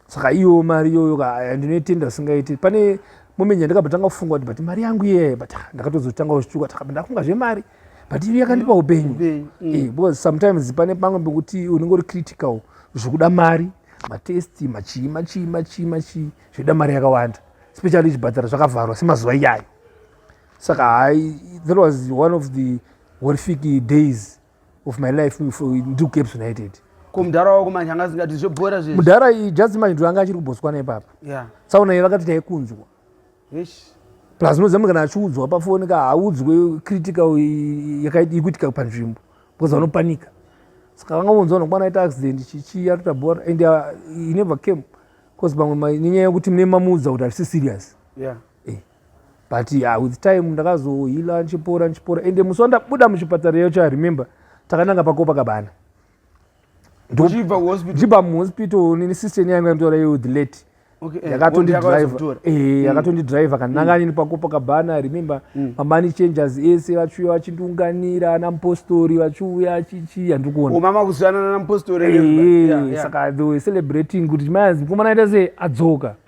saka iyo mari iyoyo eh, ndinoitenda singaiti pane moment yandikabotanga kufunga kuti but mari yangu iye but ah, ndakatozotanga kushtuka takaba ndafunga zvemari but iyo yakandipa mm. upenyu mm. eh, because sometimes pane pamwe pekuti unenge uri critical zvekuda mari matest machii machii machii machii zvoda mari yakawanda especially zvibhadhara zvakavharwa semazuva iyayo saka hai that was one of the horrific days of my life ndiri kucaps united ko mudhara wako manje anga asingati zvobhora zve mudhara iyi just manje ndo anga achiri kubotswana ipapa yeah. tsaona iyi vakati taikunzwa plus unoziva kana achiudzwa pafoni ka haudzwe critical yekuitika panzvimbo because vanopanika saka vanga vonzwa nokwana aita accident chichi yatota bhora and uh, he never came because pamwe nenyaya yekuti mune mamuudza kuti hazvisi serious yeah. but yeah, with time ndakazohila ndichipora ndichipora ende musi wandabuda muchipatara yacho i remember takananga pakopa kabana ndichibva muhospital nini sister yenyu yanga nditaura iyo the late eh, yakatondidriver eh, mm. yakatondidriver kananga mm. nini pakopa kabana i remember mm. mamani changers ese vachiuya vachindiunganira ana mupostori vachiuya achichii handiri kuona oh, mama kuzivanana namupostori eh, saka they were celebrating kuti mai anzi mukomana aita se adzoka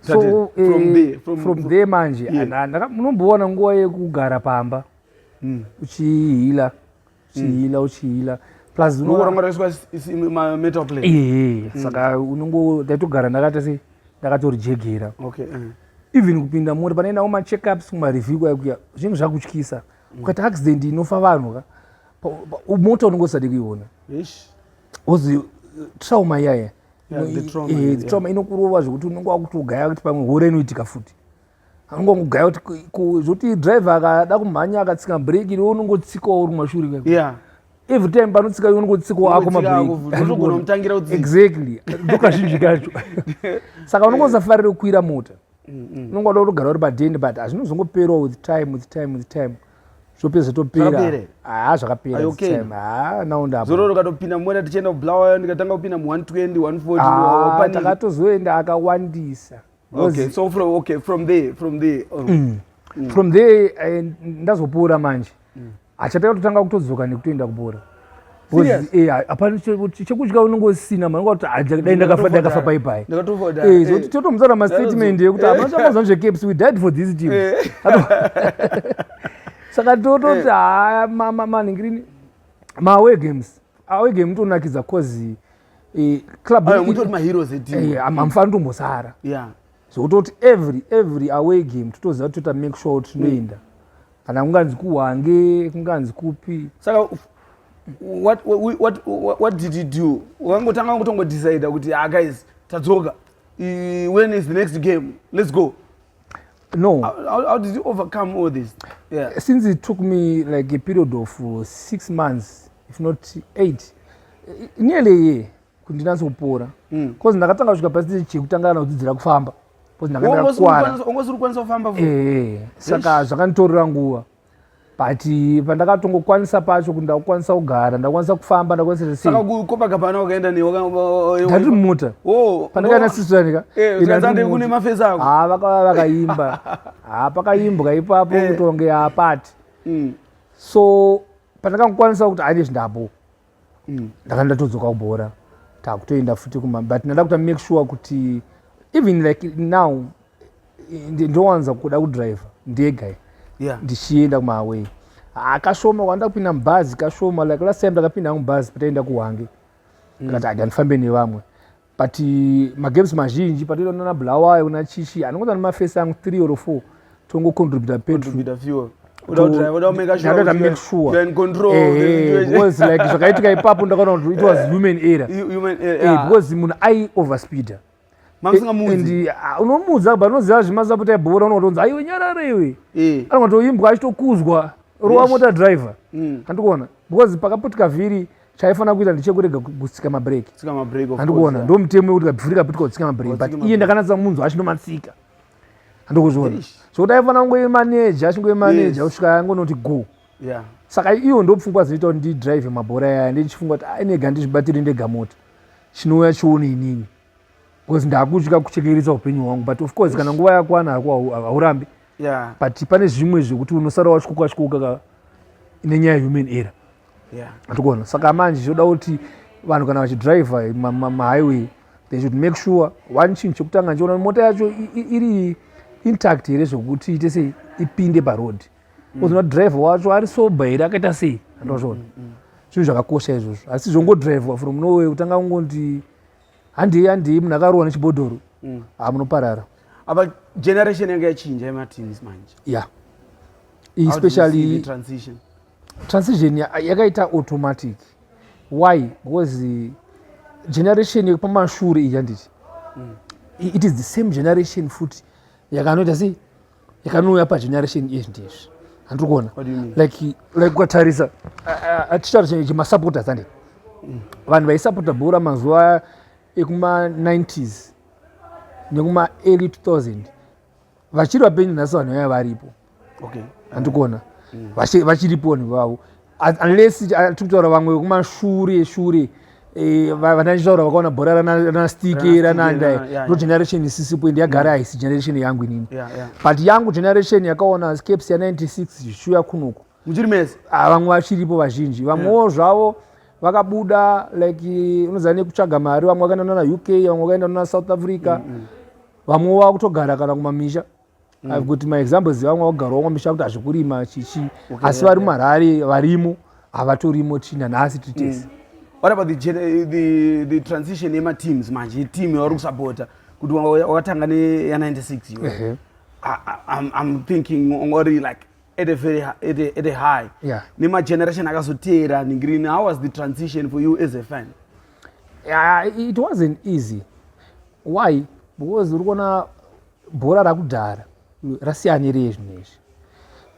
so uh, from there, from, from there manje yeah. munombowana nguva yekugara pamba mm. uchihila uchihila mm. uchihila plus unorangaiswametal play ee mm. saka unongo ndaitogara ndakaita se ndakatorejegera okay. uh. even kupinda mori panoendawo macheckups kumareview kwaikuya zvinhu zvakutyisa mm. ukaita accident inofa vanhu ka mota unongo usade kuiona ozi trauma yaya trauma eh, inokurova zvekuti unenge wakutogaya kuti pamwe hore inoitika futi anongongogaya kuti zvoti driver akada kumhanya akatsika breki iwe unongotsikawo uri kumashure every time panotsika iwe unongotsikawo ako mabrekiexactly ndokazhinji kacho saka unongosafarire kukwira mota unonga uda kutogara uri padhende but hazvinozongoperawo with time with time with time zvopedza topera haa zvakaperazororo katopinda mumwena tichienda kublawa ndikatanga kupinda mu 120 140 takatozoenda akawandisa okay so from okay from there from there oh. mm. Mm. from there eh, ndazopora manje mm. achata kutotanga kutodzoka nekutoenda kubhora chekudya unenge usina manodai ndakafa paipai zvokuti totomudza na mastatement ekuti hapana chamazvani zvecaps we died for this team saka tototi haya manhingirini maaway games away game tonakidza cause clubamufana tombosara zvekutoti every every away game totoziva kuti toita make sure kuti tinoenda mm. kana kunganzi kuhwange kunganzi kupi saka what, what, what, what did you do wakangotanga kutongodecida kuti ah guys tadzoka when is the next game let's go no how, how did you overcome all this yeah. since it took me like a period of uh, six months if not eight nearly a year kuti ndinatse kupora mm. bcause ndakatanga kusvika pasiteji chekutanga kana kudzidzira kufamba eh, saka zvakanditorera nguva but eh, pandakatongokwanisa pacho kuti ndakukwanisa kugara ndakwanisa kufamba ndakwanisaaadati mumota oh, pandakaenda oh. sisiranika eh, ah, vakaimba ah, pakaimbwa ipapo kutonge apati mm. so pandakangokwanisa kuti aine zvindapo mm. ndakanga ndatodzoka kubhora takutoenda futi kuma but ndada kuta make sure kuti even like now ndowanza kuda kudriver ndega yeah. ndichienda kumahaway akashoma kwanda kupinda mubhazi kashoma like last time ndakapinda hangu bhazi pataenda kuhwange mm. ndikati mm. adi handifambe nevamwe but eh, magames mazhinji patoita nana bulawayo kuna chichi anongoita nemafesi angu three or four tongocontributa petrol zvakaitika ipapo ndakaona kuti it was eh, human error eh, because munhu ai overspeeder and ah, unomuudza but unoziva zvimazaputa ebhora unotonzi aiwe nyarara iwe anongatoimbwa achitokuzwa rova mota driver mm. andikuona because pakaputika vhiri chaifanira kuita ndechekurega kutsika mabreak andikuona ndo mutemo wekuti kabvurika pitwa kutsika mabreak but iye ndakanatsa munzwa achinomatsika andikuzviona sokuti aifanira kungoimaneja achingoimaneja kusvika angonoti go saka iyo ndo pfungwa dzinoita kuti ndidrive mabhora yaya ndichifunga kuti ainega ndizvibatiri ndega mota chinouya chione inini bcause ndakutya kuchekeresa upenyu hwangu but of course kana nguva yakwana hako haurambi yeah. but pane zvimwe zvekuti unosara wachikoka chikoka nenyaya yehuman era yeah. atikuona saka manje zvoda kuti vanhu kana vachidriver mahighway ma, ma they should make sure one chinhu chekutanga ndichiona mota yacho iri intact here zvekuti ite sei ipinde paroad mm. ozona driver wacho ari sober here akaita sei andozvona mm, mm, zvinhu zvakakosha izvozvo asi zvongodriver from norway kutanga kungonti handei handei munhu akarohwa nechibhodhoro mm. ha munoparara apa generation yanga yachinja yematins manje ya yeah. especially transition transition yakaita automatic why because uh, generation yekupamashure iyi yanditi mm. it is the same generation futi yakanoita sei yakanouya pageneration izvi ndizvi handiri kuona like ukatarisa tichitaura chenye chemasupporters ande mm. vanhu vaisupporta bhora mazuva ekuma90s nekuma early 2000 vachiri vapenyu nhasi vanhu vaya varipo handiri kuona mm. vachiripo vanhu vavo unless tiri kutaura vamwe vekumashure shure eh, vandaitaura vakaona bhora ranastike ranandai ndo generation isisipo ende yagara haisi generation yangu inini but yangu generation yakaona scaps ya96 zvichiuya kunoku muchiri mese ah, vamwe vachiripo vazhinji vamwewo zvavo yeah vakabuda like unoziva nekutsvaga mari vamwe vakaenda nana uk vamwe vakaenda nana south africa mm, mm. vamwe vakutogara kana kumamisha mm. I've got my examples vamwe vagara vamwe misha kuti hazvikurima chichi okay, asi vari mumarari varimo havatorimo china nhasi titese mm. what about the, eh, the, the transition yemateams manje team yavari kusapota kuti wakatanga neya 96 iwe uh-huh. I'm, i'm thinking ongori like at a very at a, at a high yeah. nemageneration akazoteera ningirini how was the transition for you as a fan yeah, it wasn't easy why because uri kuona bhora rakudhara rasiyanirei zvinhu izvi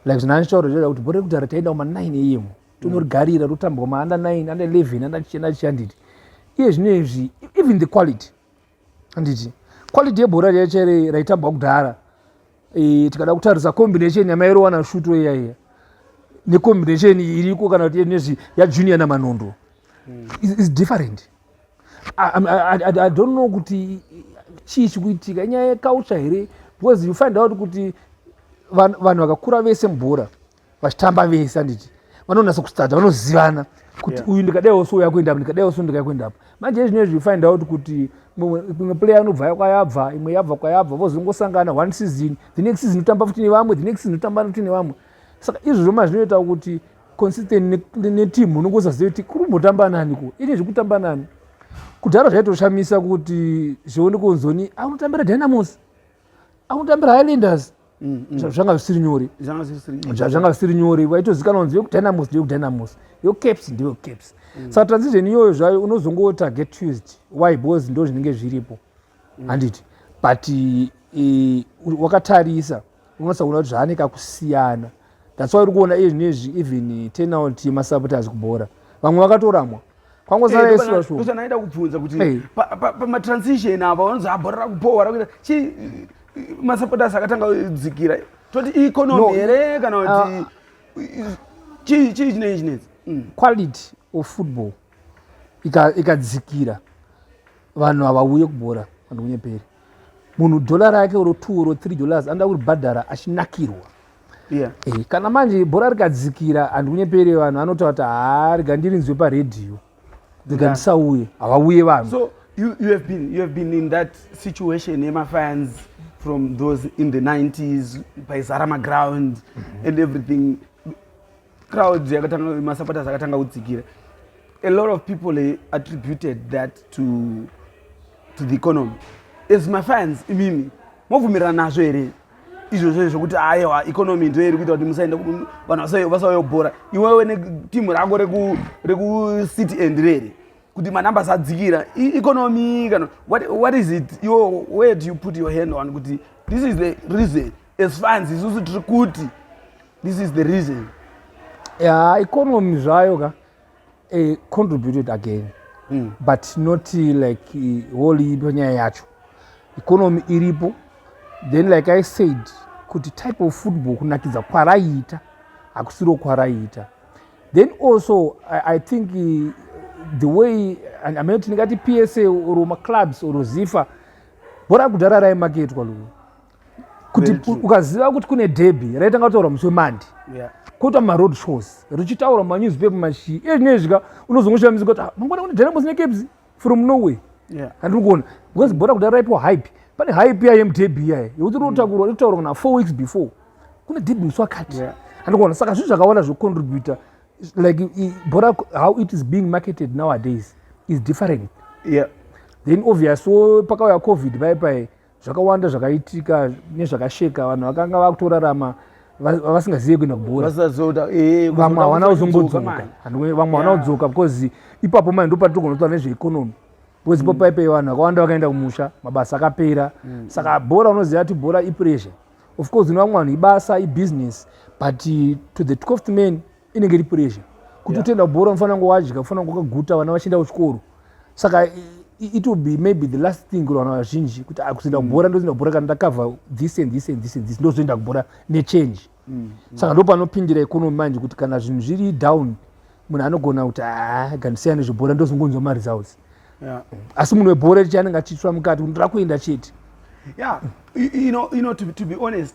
like zvinandichauro zvoda kuti bhora rekudhara taenda kuma 9 eyemu tonorigarira rotambwa maanda 9 anda 11 anda chienda chiya nditi iye zvino izvi even the quality anditi quality yebhora riya chaire raitambwa kudhara e, tikada kutarisa combination yamairowana shuto iya iya necombination iriko kana kuti nezvi yajunior namanondo hmm. is different I, I, I, I don't know kuti chii chikuitika inyaya yekautsva here because you find out kuti vanhu vakakura vese mubhora vachitamba vese anditi vanonasa kustadza vanozivana kuti uyu ndikadaiwo so yakuenda apa ndikadaiwo so ndikakuenda apa manje izvino izvi find out kuti imwe player anobva kwayabva imwe yabva kwayabva vozongosangana one season the next season otamba futi nevamwe the next season otamba futi nevamwe saka izvozvo mazvinoita kuti consistent neteam unenge usazive kuti kuri kumbotamba nani ko ine zvekutamba nani kudhara zvaitoshamisa kuti zvione kunzoni aunotambira dynamos aunotambira highlanders mm, mm. zvanga zvisiri nyore zvanga zvisiri nyore vaitozikanwa nzi yekudynamos ndeyekudynamos yocaps ndeyocaps mm. saka transition iyoyo zvayo unozongotarget tuesday why bcause ndo zvinenge zviripo handiti but eh, wakatarisa unosaona kuti zvaane kakusiyana that's why uri kuona iye zvinezvi even turnout yemasupporters kubhora vamwe vakatoramwa kwangosara yesu vashuwa kusa naida kubvunza kuti pamatransition apa vanonzi abhora rakupowa rakuita chi masupporters akatanga kudzikira toti economy here kana kuti ah. chii chii chinei chinetsi mm. quality of football ikadzikira vanhu havauye kubhora vanhu kunyeperi munhu dhola rake oro two oro three dollars anoda kuribhadhara achinakirwa yeah. e, kana manje bhora rikadzikira handikunyepere vanhu anotaura kuti haa rega ndirinzwe paredhiyo rega yeah. ndisauye havauye vanhu so, you, you, have been, you have been in that situation yemafans from those in the 90s paizara maground mm -hmm. and everything crowds yakatanga masupporters akatanga kudzikira a lot of people they attributed that to to the economy as mafans imimi mobvumirana nazvo here izvozvo zvokuti aiwa economy ndo iri kuita kuti musaenda vanhu vasayobhora iwewe netimu rako rekucity end rere kuti manumbers adzikira economy kana what is it yo where do you put your hand on kuti this is the reason as fans isusu tiri kuti this is the reason ya economy zvayo ka eh, contributed again mm. but not like eh, whole ipo nyaya yacho economy iripo then like i said kuti type of football kunakidza kwaraiita hakusiro kwaraiita then also i, I think uh, the way amene kuti ndingati psa or maclubs or zifa bhora kudhara raimaketwa luwe kuti ukaziva kuti kune debhi raitanga kutaura musi wemandi kuita maroad shows richitaura manewspaper mashii iye zvinei zvika unozongoshamisa kuti ah, mangwana kune dynamos nekebs from norway handiri kuona because bhora kudai raipiwa hype pane hype iya yemudebhi iyaye yekuti rinotakurwa rinotaurwa kana four weeks before kune debhi musi wakati handiri kuona saka zvinhu zvakawanda zvocontributa like bhora how it is being marketed nowadays is different yeah. then obvious so pakauya covid pai pai zvakawanda zvakaitika nezvakasheka vanhu vakanga vakutorarama vasingazive kuenda kubhoravamwe eh, havana kuzongodzoka vamwe havana kudzoka because ipapo mai ndopati togona kutaura nezveekonomi because ipo mm. paipe vanhu vakawanda vakaenda kumusha mabasa akapera mm. saka bhora unoziva kuti bhora ipressure of course ino vamwe vanhu ibasa ibusiness but to the twelfth man inenge iri pressure kuti utoenda yeah. kubhora unofana kunge wadya ufana kunge wakaguta vana vachienda kuchikoro saka it will be maybe the last thing kuri vanhu vazhinji kuti ah, kuzoenda mm. kubhora ndozoenda kubhora kana ndakavha this and this and this and this ndozoenda kubhora nechange mm, mm. saka ndo panopindira economy manje kuti kana zvinhu zviri down munhu anogona kuti ah, gandisiyana nezvebhora ndozongonzwa maresults asi munhu webhora richi anenge achitsva mukati kuti ndakuenda chete ya you know, you know, to, to be honest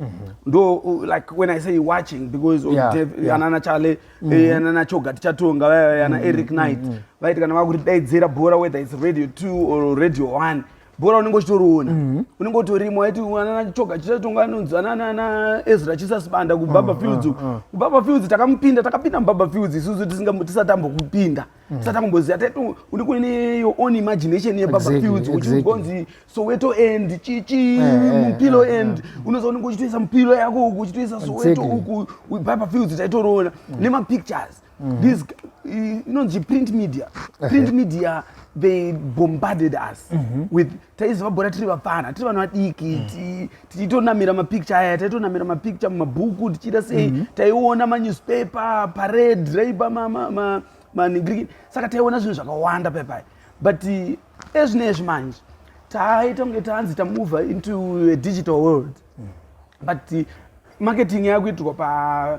Mm-hmm. ndo uh, like when i say watching because anana chale eh, mm-hmm. anana choga tichatonga eh, ana mm-hmm. eric knight vaiti kana vakutidaidzira bhora whether its radio two or radio one bhora unenge uchitoriona unenge utorimo aiti anana choga tichatonga anonzi anana ezra chisasibanda kubaba fields kubaba fields takamupinda takapinda mubaba fields isusu tisati tambokupinda tisati akumboziva taito une kuine your own imagination yebabafields uchigonzi soweto end chichi eh, eh, mupilo eh, end unoza unenge uchitoisa mupilo yako uku uchitoisa soweto uku babafields taitoroona mm. nemapictures mm. this inonzi print media print media they bombarded us mm-hmm. with taiziva bhora tiri vapfana tiri vanhu vadiki mm. tichitonamira mapicture aya taitonamira mapicture mumabhuku tichiita sei mm -hmm. taiona manewspaper parade raipa manigri ma, ma, saka taiona zvinhu zvakawanda paipai but ezvine ezvi manje taita kunge tanzi tamova into a digital world mm. but marketing yakuitirwa pa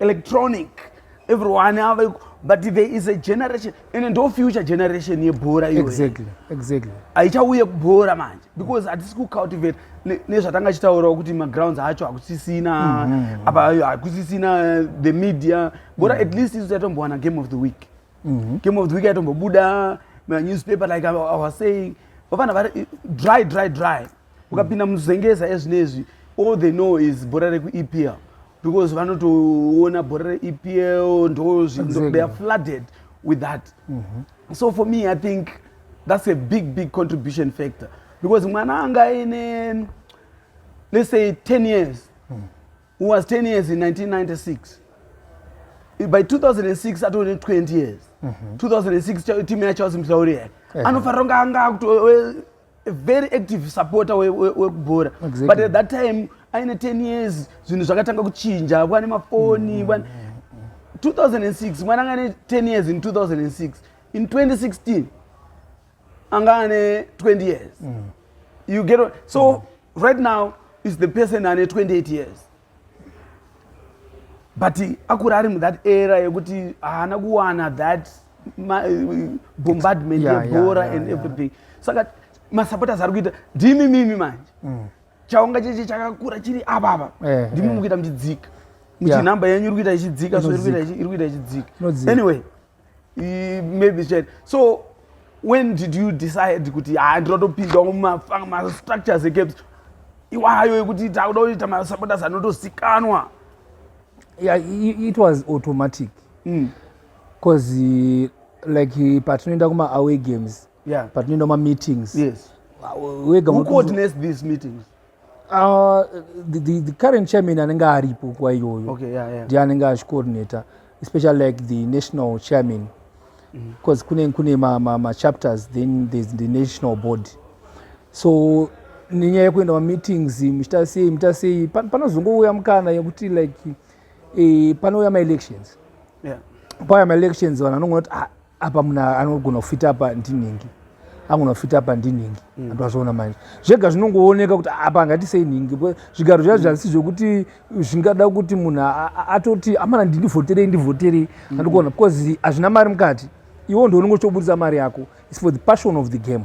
electronic everyone ava but there is a generation and ndo future generation yebhora exactly exactly haichauye kubhora manje because hatisi kucultivate nezvatanga chitaurawo kuti magrounds acho hakusisina mm-hmm. apa hakusisina uh, the media bhora mm-hmm. at least isu taitombowana game of the week mm-hmm. game of the week aitombobuda manewspaper like i was saying vafana vari dry dry dry ukapinda muzengeza ezvinezvi all they know is bhora rekuepl because vanotoona bhora reepl ndo zvinhu they are flooded with that mm -hmm. so for me i think that's a big big contribution factor because mwana anga aine let's say 10 years mm. who was 10 years in 1996 by 2006 atone 20 years mm -hmm. 2006 timu yacho asimhlauriya anofanira kunge anga akuto a very active supporter wekubhora we, we exactly. but at that time aine 10 years zvinhu zvakatanga kuchinja vane mafoni mm, mm, mm. 2006 mwana anga ane 10 years in 2006 in 2016 anga ane 20 years mm. you get so mm. right now is the person ane 28 years but akuri ari muthat era yekuti haana kuwana that eh, bombardment yebhora and everything saka masupporters ari kuita ndimi mimi manje mm. chaunga cheche chakakura chiri avava eh, ndimi eh. mukuita muchidzika muchinhamba yenyu iri kuita ichidzika so iri kuita ichidzika anyway maybe chete so when did you decide kuti ha ah, ndinotopinda mumastructures ecaps iwayo ekuti takuda kuita masabotas anotozikanwa yeah, it was automatic because mm. like patinoenda kuma away games yeah. patinoenda kuma meetings yes. wega who coordinates these meetings Uh, the, the, the current chairman anenge aripo nguva iyoyo okay, yeah, yeah. ndiye anenge achicoordinator especially like the national chairman because mm. kune kune machapters ma, ma then there's the national board so nenyaya yekuenda mameetings muchita sei muchita sei panozongouya mukana yekuti like eh, panouya maelections yeah. pauya maelections vanhu vanongonoti ah, apa munhu anogona kufita apa ndinhingi angona kufita apa ndinhingi mm. antu azviona manje zvega zvinongooneka kuti apa angati sei nhingi zvigaro zvazi zvasi zvekuti zvingada kuti munhu atoti amana ndindivhoterei ndivhoterei mm. andikuona because hazvina mari mukati iwo ndiwo unenge uchitoburitsa mari yako is for the passion of the game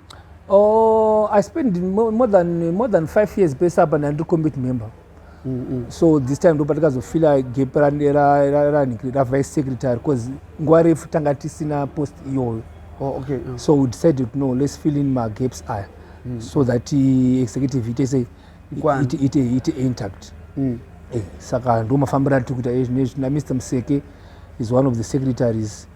Oh, I spent more than more than five years pesa apa ndandiri commit member. Mm -hmm. So this time ndo patikazofila gap ra ra ra ra ra vice secretary because nguva refu tanga tisina post iyoyo. Oh, okay. Mm. So we decided no, let's fill in my gaps aya. Mm. So that uh, executive it is a it it it intact. Mm. Eh, saka ndo mafambira tikuita ezvinezvi na Mr. Mseke is one of the secretaries. Mm.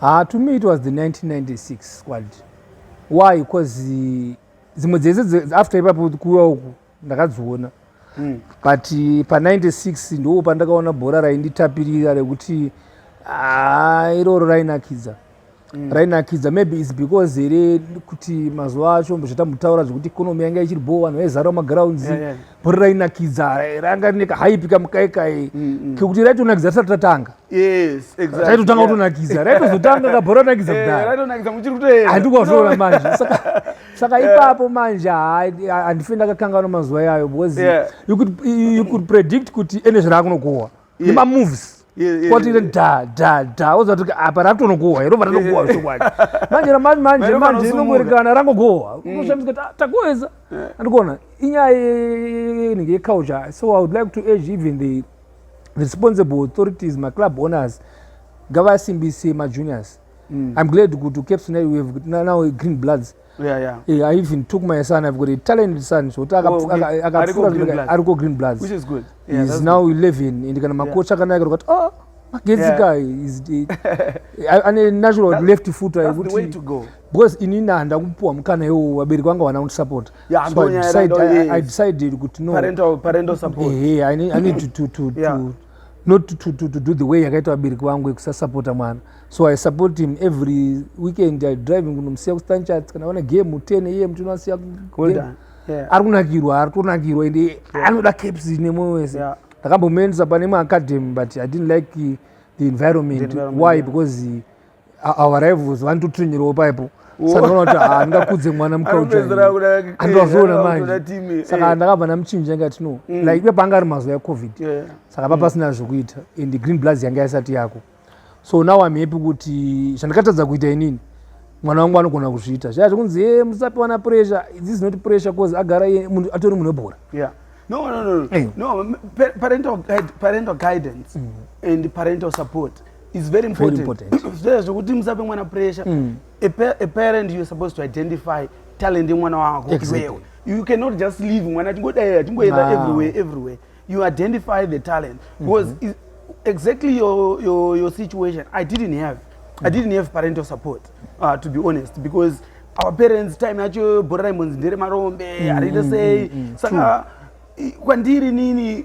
Haa to me it was the 1996 squad. Why? Because eh, dzimwe dzese after ipapo kuwa uku ndakadziona. Mm. But eh, pa 96 ndoo pandakaona bhora rainditapirira rekuti haa iroro rainakidza. Mm. rainakidza maybe is because here kuti mazuva acho zvatamutaura zvekuti economy yanga ichiri bho vanhu vaizara magrounds yeah, yeah. bhori rainakidza ranga rine kahaipi kamukaikai mm, mm. kekuti raitonakidza tisati tatanga Yes, exactly. Raitotanga kutonakidza. Raitozotanga kabhora tonakidza eh, kudai. Raitonakidza muchiri kutoenda. Handikwazoona manje. Saka saka eh. ipapo manje handife ndakakanganwa mazuva iyayo because yeah. you could you could predict kuti ene zvirakunokuwa. Yeah. Nema moves. kwatire dha dha dha woziva kuti apa ratonogohwa irova ranogohwa zvokwadi manje ramanje manje manje inongoerekana rangogohwa mm. unoshamisa kuti takuweza andikuona inyaya inenge yecouture so i would like to age even the responsible authorities maclub owners ngavasimbise majuniors mm. i'm glad kuti caps now we have now green bloods yeah, yeah. Hey, i even took my son i've got a talented son zvekuti akapfuura ariko green bloods Which is good. Yeah, is now good. 11 and kana makocha yeah. akanaka kuti oh magenzika yeah. ane natural that, left footer yekuti because inini handakupuwa mukana iwo vabereki vanga vana kundisapota Yeah, so I decided, I, I decided kuti no parental, parental support. Hey, eh, eh, I need, I need to, to, to, yeah. to not to, to, to do the way yakaita vabereki vangu yekusasapota mwana so i support him every weekend i driving kunomusiya kustanchat kana vana game 10 iye mutino asiya ari kunakirwa ari kunakirwa ende anoda caps nemoyo wese ndakambomuendesa pane maacademy but i didn't like the environment, the environment why yeah. because avo varaivuzi vanototrinyirewo paipo sandinoona kuti haa ndingakudze mwana mukaujaandovazviona manje saka ndakabva ndamuchinja ingati no mm. like ipe panga ari mazuva ecovid saka pa mm. pasina zvekuita and green bloods yanga yasati yako so now am happy kuti zvandikatadza kuita inini mwana wangu anogona kuzviita zvaya zvekunzi e musapiwa na pressure this is not pressure bcause agara iye munhu atori munhu webhora no no no no eh. parental guidance mm. and parental support It's very important. Very important. Zvese zvekuti musape mwana pressure. Mm. A, pa a parent you're supposed to identify talent yemwana wako. Exactly. You cannot just leave mwana achingodaya achingoenda wow. everywhere everywhere. You identify the talent mm-hmm. because mm -hmm. exactly your, your your situation I didn't have. Mm -hmm. I didn't have parental support uh, to be honest because our parents time yacho bhora raimbonzi ndere marombe mm, harite mm, sei mm, mm, saka kwandiri nini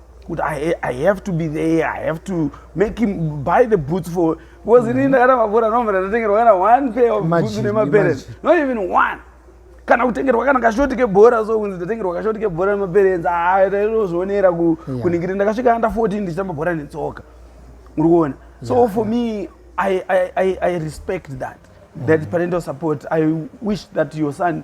kuti I, i have to be there i have to make him buy the boots for because mm. ini ndakada mabhora nomva ndatotengerwa kana one pair of boots nemaparents not even one kana kutengerwa kana kashoti kebhora so kunzi ndatengerwa kashoti kebhora nemaparents aitozvionera ah, ku, yeah. kuningirira ndakasvika under 14 ndichitamba bhora netsoka uri kuona so yeah, for yeah. me I, I, I, i respect that mm. that parental support i wish that your son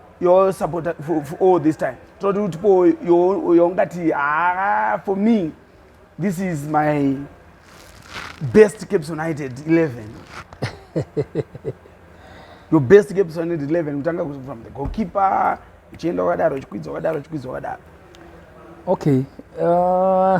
your support for, for all this time toti kuti po yongati ah, for me this is my best caps united 11 your best caps united 11 kutanga from the goalkeeper uchienda wakadaro uchikwidza wakadaro uchikwidza wakadaro okay uh...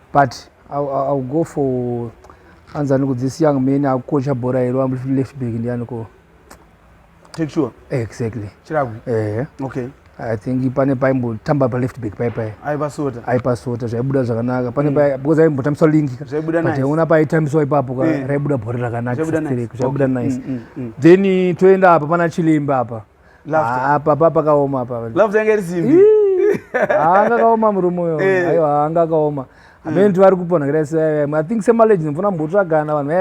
but iwill go for anzi aniko this young man akukocha bhora here ambuti left back ndianiko take sure exactly chiragwi ehe okay i think pane paimbotamba paleft back pai pai aipasota aipasota zvaibuda zvakanaka pane mm. pai because aimbotambiswa lingi zvaibudaaiona paitambiswa ipapo ka eh. raibuda bhora rakanaka zvaibuda nice mm, mm, then toenda apa pana chilemba apa Ah, papa pakaoma palafuta yanga iri simbi anga akaoma murume uyo eh. aiwa anga akaoma amene tivari mm. kupona kudai i think semaleji ndimfuna mbotsvagana vanhu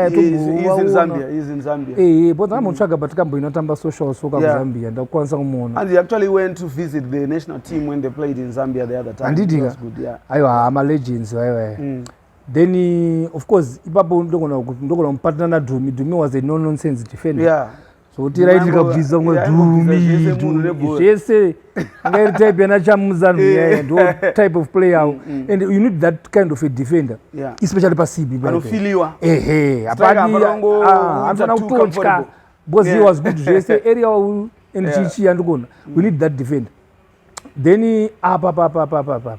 vayaipoza ambotsvaga but kambo inotamba social soka kuzambia ndakukwanisa kumuonaanditika aiwa haa malegends vaivaye mm. then of course ipapo ndogona kupatana nadhumi dhumi was a no nonsense defender yeah. zvotira iti kabvisa ngo dumi dumi zvese anga iri type yana chamuzanu eh. yaya ndo type of player awo mm, mm. and you need that kind of a defender yeah. especially pa cb anofiliwa ehe apadi ah, anofana kutotya because yeah. he was good zvese area wawu and yeah. chichi yandikuona we need that defender then apa papa papa papa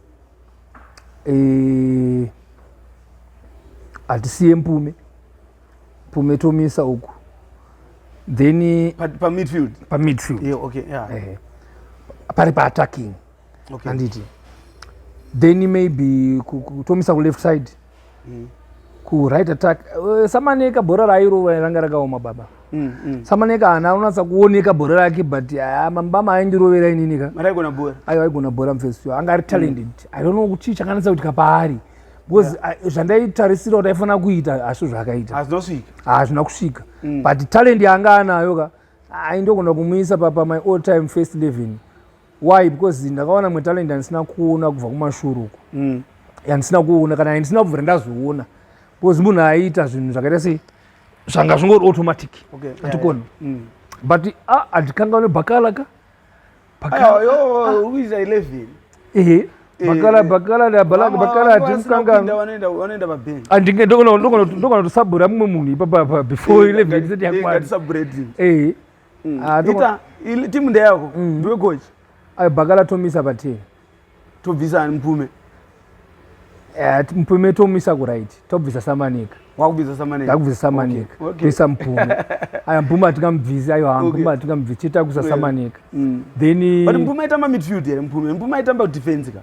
eh, hatisiye mpume mpume tomisa uku then pamidfield pa pamidfield yeah, okay, yeah. Eh, pari paattacking okay. anditi then maybe kutomisa kuleft side mm. kuright attack eh, samaneka bhora rairova ranga rakaoma baba mm, mm. samaneka hana anonatsa kuoneka bhora rake but ah, mambama aindirovera inini ka aiwa aigona bhora mfesi yo anga ari talented i don't know chii chakanatsa kuitika paari because ah, zvandaitarisira kuti aifanira kuita hazvo zvakaita hazvina kusvika but talent yanga anayo ka aindogona kumuisa papa my all time first living why because ndakawana mwe talent yandisina kuona kubva kumashuru uko mm. yandisina kuona kana yandisina kubvira ndazoona because munhu aiita zvinhu zvakaita sei zvanga zvingori automatic atikoni mm. but andikangaune ah, bakala ka bakalaandingendokona kutosabura mumwe munhu ipapa before 11 eh, eh, eh, mm. ah, ita timu ndeyako mm. ndiwe coach ayo bakala tomisa patii tobvisa ani mpume eh, mpume tomisa kurit tobvisa samanika wakubvisa samanika ndakubvisa samanika toisa mpume aya mpume atingamubvisi ayo ha mpume atingamubvisi chiita kuisa samanika mm. then but mpume aitamba midfield here mpume mpume aitamba defense ka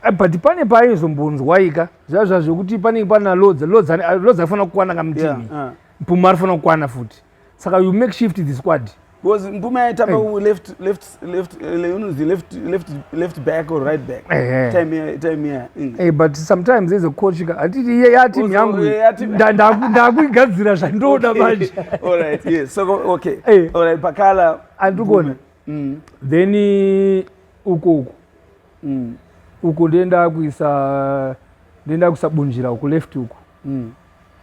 Eh, but pane paaizombonzwaika zviya zva zvekuti panenge pana lodza lodza lodza afanira kukwana kamutini yeah, uh. mpuma arifana kukwana futi saka you make shift the squad because mpume aitamba hey. left left left eh, unonzi left left left back or right back hey. time here time here mm. hey, but sometimes as a coach hatiti iye ya team yangu ndakuigadzira zvandoda manje all right yes so okay hey. all right pakala andikona mm. then eh, uko uko mm. uko ndenda kuisa ndenda kusabunjira uko left uko mm.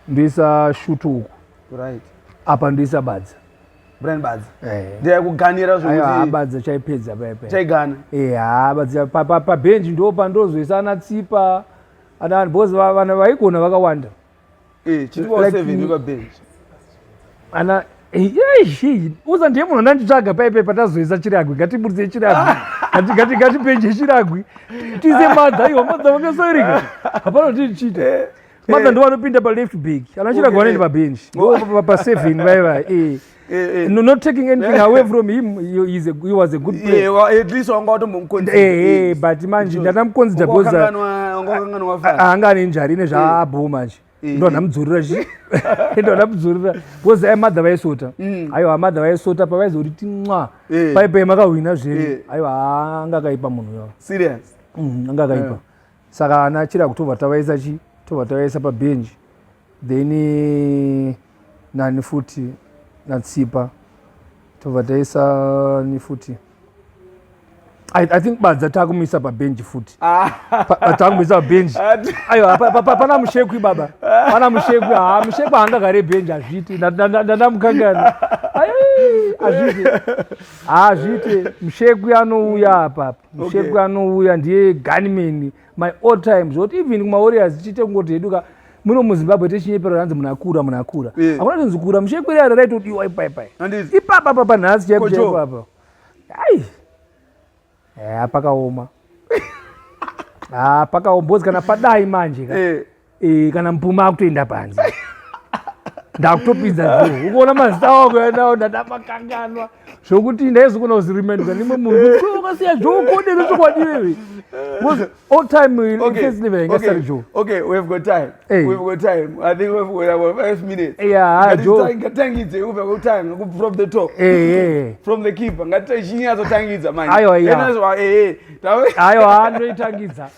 Ndisa shutu uku. Right. Apa ndisa badza. Brian badza. Eh. Ndiya kuganira zvokuti. Ayo badza chaipedza pepe. Chaigana. Eh, ha badza pa pa, pa bench ndo pandozoisa ana tsipa. Ana boss vana vaigona vakawanda. Eh, chiti wa 7 pa bench. Ana Yeshi, uza ndiye munhu andanditsvaga paipe patazoisa chiragwi ngatiburitse chiragwi ngati ngatipenje chiragwi tize madha iwo madha vakasoirika hapana kuti chiite Mother eh. ndo vanopinda pa left back. Anachira okay. gwaneni pa bench. Go pa pa seven bye bye. Eh. Eh, eh. No, not taking anything away from him he, is a, he was a good player yeah, well, at least wanga watombomuconsider eh, hey, eh, but manje ndatamuconsider because anga ane njari ine zvaabho manje ndo ndamudzorera chi ndo ndamudzorera because ai mother vaisota mm. aiwa mother vaisota pavaizoti tinwa paipai makahwina zvenyu aiwa anga akaipa munhu yavo serious mm, anga akaipa saka ana chiragu tobva tavaisa chi tobva tavaisa pabhenji then eh, nani futi natsipa tobva taisa ni futi I, I think badza takumisa pabhenji futi ah. takumisa pabhenji aiwa pana mushekwi baba pana mushekwi ha mushekwi haangagare bhenji hazviiti ndandamukangana hazviiti hazviiti mushekwi anouya apapa musheku okay. anouya ndiye gunman my all time zvekuti even kumawarriors tichiite kungoti hedu ka muno muzimbabwe techinyepero ranzi munhu akura munhu akura yeah. akuna tonzi kura musheku iri aro raitodiwa ipaipai ipapa papa nhasi chaipo chaipo apa ai haa pakaoma haa pakaoma bhozi kana padai manje ka yeah. Eh, kana mupuma akutoenda panze ndakutopinza dhu ukuona mazita wakuendawo ndadamakanganwa zvokuti ndaizokona kuziremenda nimwe munhu ukasiya zvokodero chokwadiwewe all time in okay. first living okay. Sorry, Joe. Okay, we've got time. Hey. We've got time. I think we've got about five minutes. Yeah, Ngati Joe. Ngatangidze we've got time from the top. Hey, eh, eh, hey. Eh. From the keeper. Ngati chinyazo tangidza manje. Ayo, ayo. Ena zwa eh eh. Ayo anoitangidza.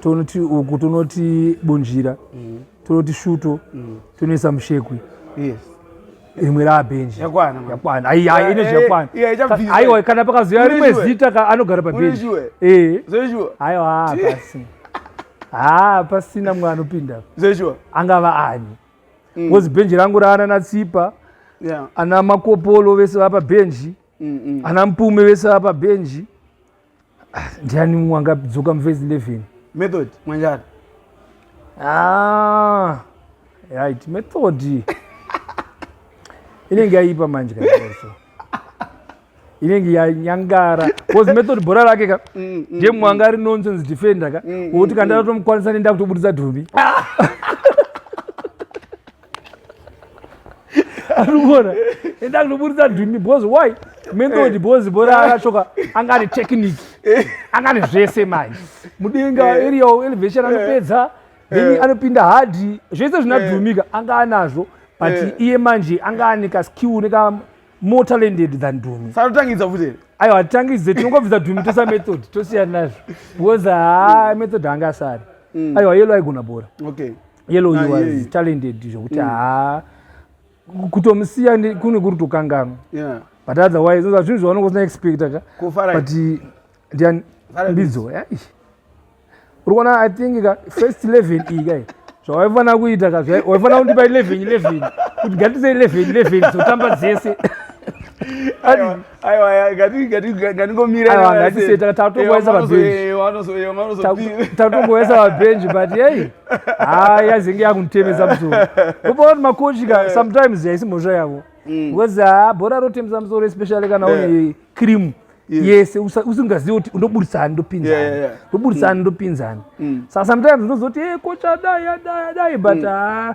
tonoti uku tonoti bunjira mm. tonoti shuto mm. tonoisa mushekwi yes rimwe rabhenji yakwana yakwana ai ai ine zvakwana aiwa kana pakazoya rimwe zita ka anogara pabhenji eh zeshuwa aiwa basi ha pasina mwana anopinda zeshuwa angava ani mm. ngozi bhenji rangu raana na tsipa ana makopolo vese vapa bhenji mm, mm. ana mpume vese vapa bhenji Ah, ndiani mumwe angadzoka muvhesi 11 method mwanjani ah, right method inenge yaipa manje kaoso inenge yanyangara bcause method bhora rake ka mm, mm, ndiye mumwe mm. anga ari nonsense defender ka wokuti kandatotomukwanisa nenda kutobudisa dhumbi arikuona enda kunoburitsa ndwimi because why menthod because bora akachoka anga ane technique anga ane zvese manje mudenga eh. area elevation anopedza eh. then eh. anopinda hadi zvese zvinadhumika anga anazvo but iye manje anga ane kaskill neka more talented than dhumi sanotangidza futi aiwa hatitangidze tinongobvisa dhumi tosa method tosiyana nazvo because haa method anga asari mm. aiwa yelo aigona bora okay yellow you was talented zvekuti mm. haa kutomusiya kune kuri tokanganwa but otherwise oza zvinhu zvaona kusina expecta ka but ndiani mbidzo eh, uri kuona i think ka first eleven iyi kai zvawaifanira kuita ka waifanira kundipa eleven eleven kuti gatise eleven eleven dzotamba dzese tatongoesa vabhenji but yei haa yazinge yakunditemesa musoro kupa kuti makochi ka sometimes yaisi mhosva yavo mm. because haa ah, bhora rotemesa musoro especially kana une cream yese usingazivi kuti ndoburitsa ani ndopinzani ndoburitsa ani mm. ndopinzani mm. sa sometimes unozoti e eh, kocha dai adai adai but haa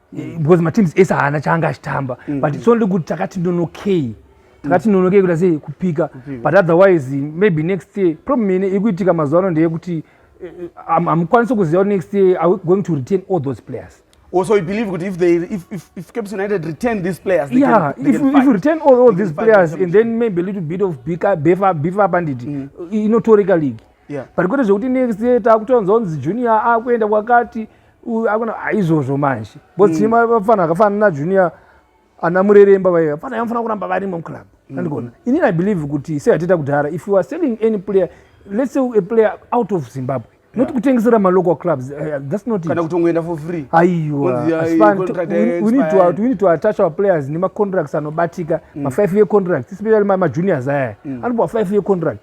mm. because mateams ese haana chaanga achitamba mm. but it's only kuti takati ndonokei takati mm. ndonokei kuita sei kupika but otherwise maybe next year problem ine ikuitika mazuva ano ndeyekuti eh, eh, hamukwanisi kuziva next year are we going to retain all those players also you believe good if they if if, if caps united retain these players they yeah can, they if, can if you retain all, all these players and then maybe a little bit of bika befa befa bandit mm. inotoreka league yeah. but kwete zvekuti next year takutonzwa kunzi junior akuenda kwakati aizvozvo manje bcause mm. vafana akafana najunior ana mureremba vaiva fana yamufana kuramba varimo muclub mm. andigona inini i believe kuti seyatita kudhara if you are selling any player let's say a player out of zimbabwe not kutengesera malocal clubs eh, eh, that's not kana kutongoenda for free aiwa we need to we need to attach our players nemacontracts anobatika mm. ma 5 year contracts especially ma juniors aya mm. anopuwa 5 year contract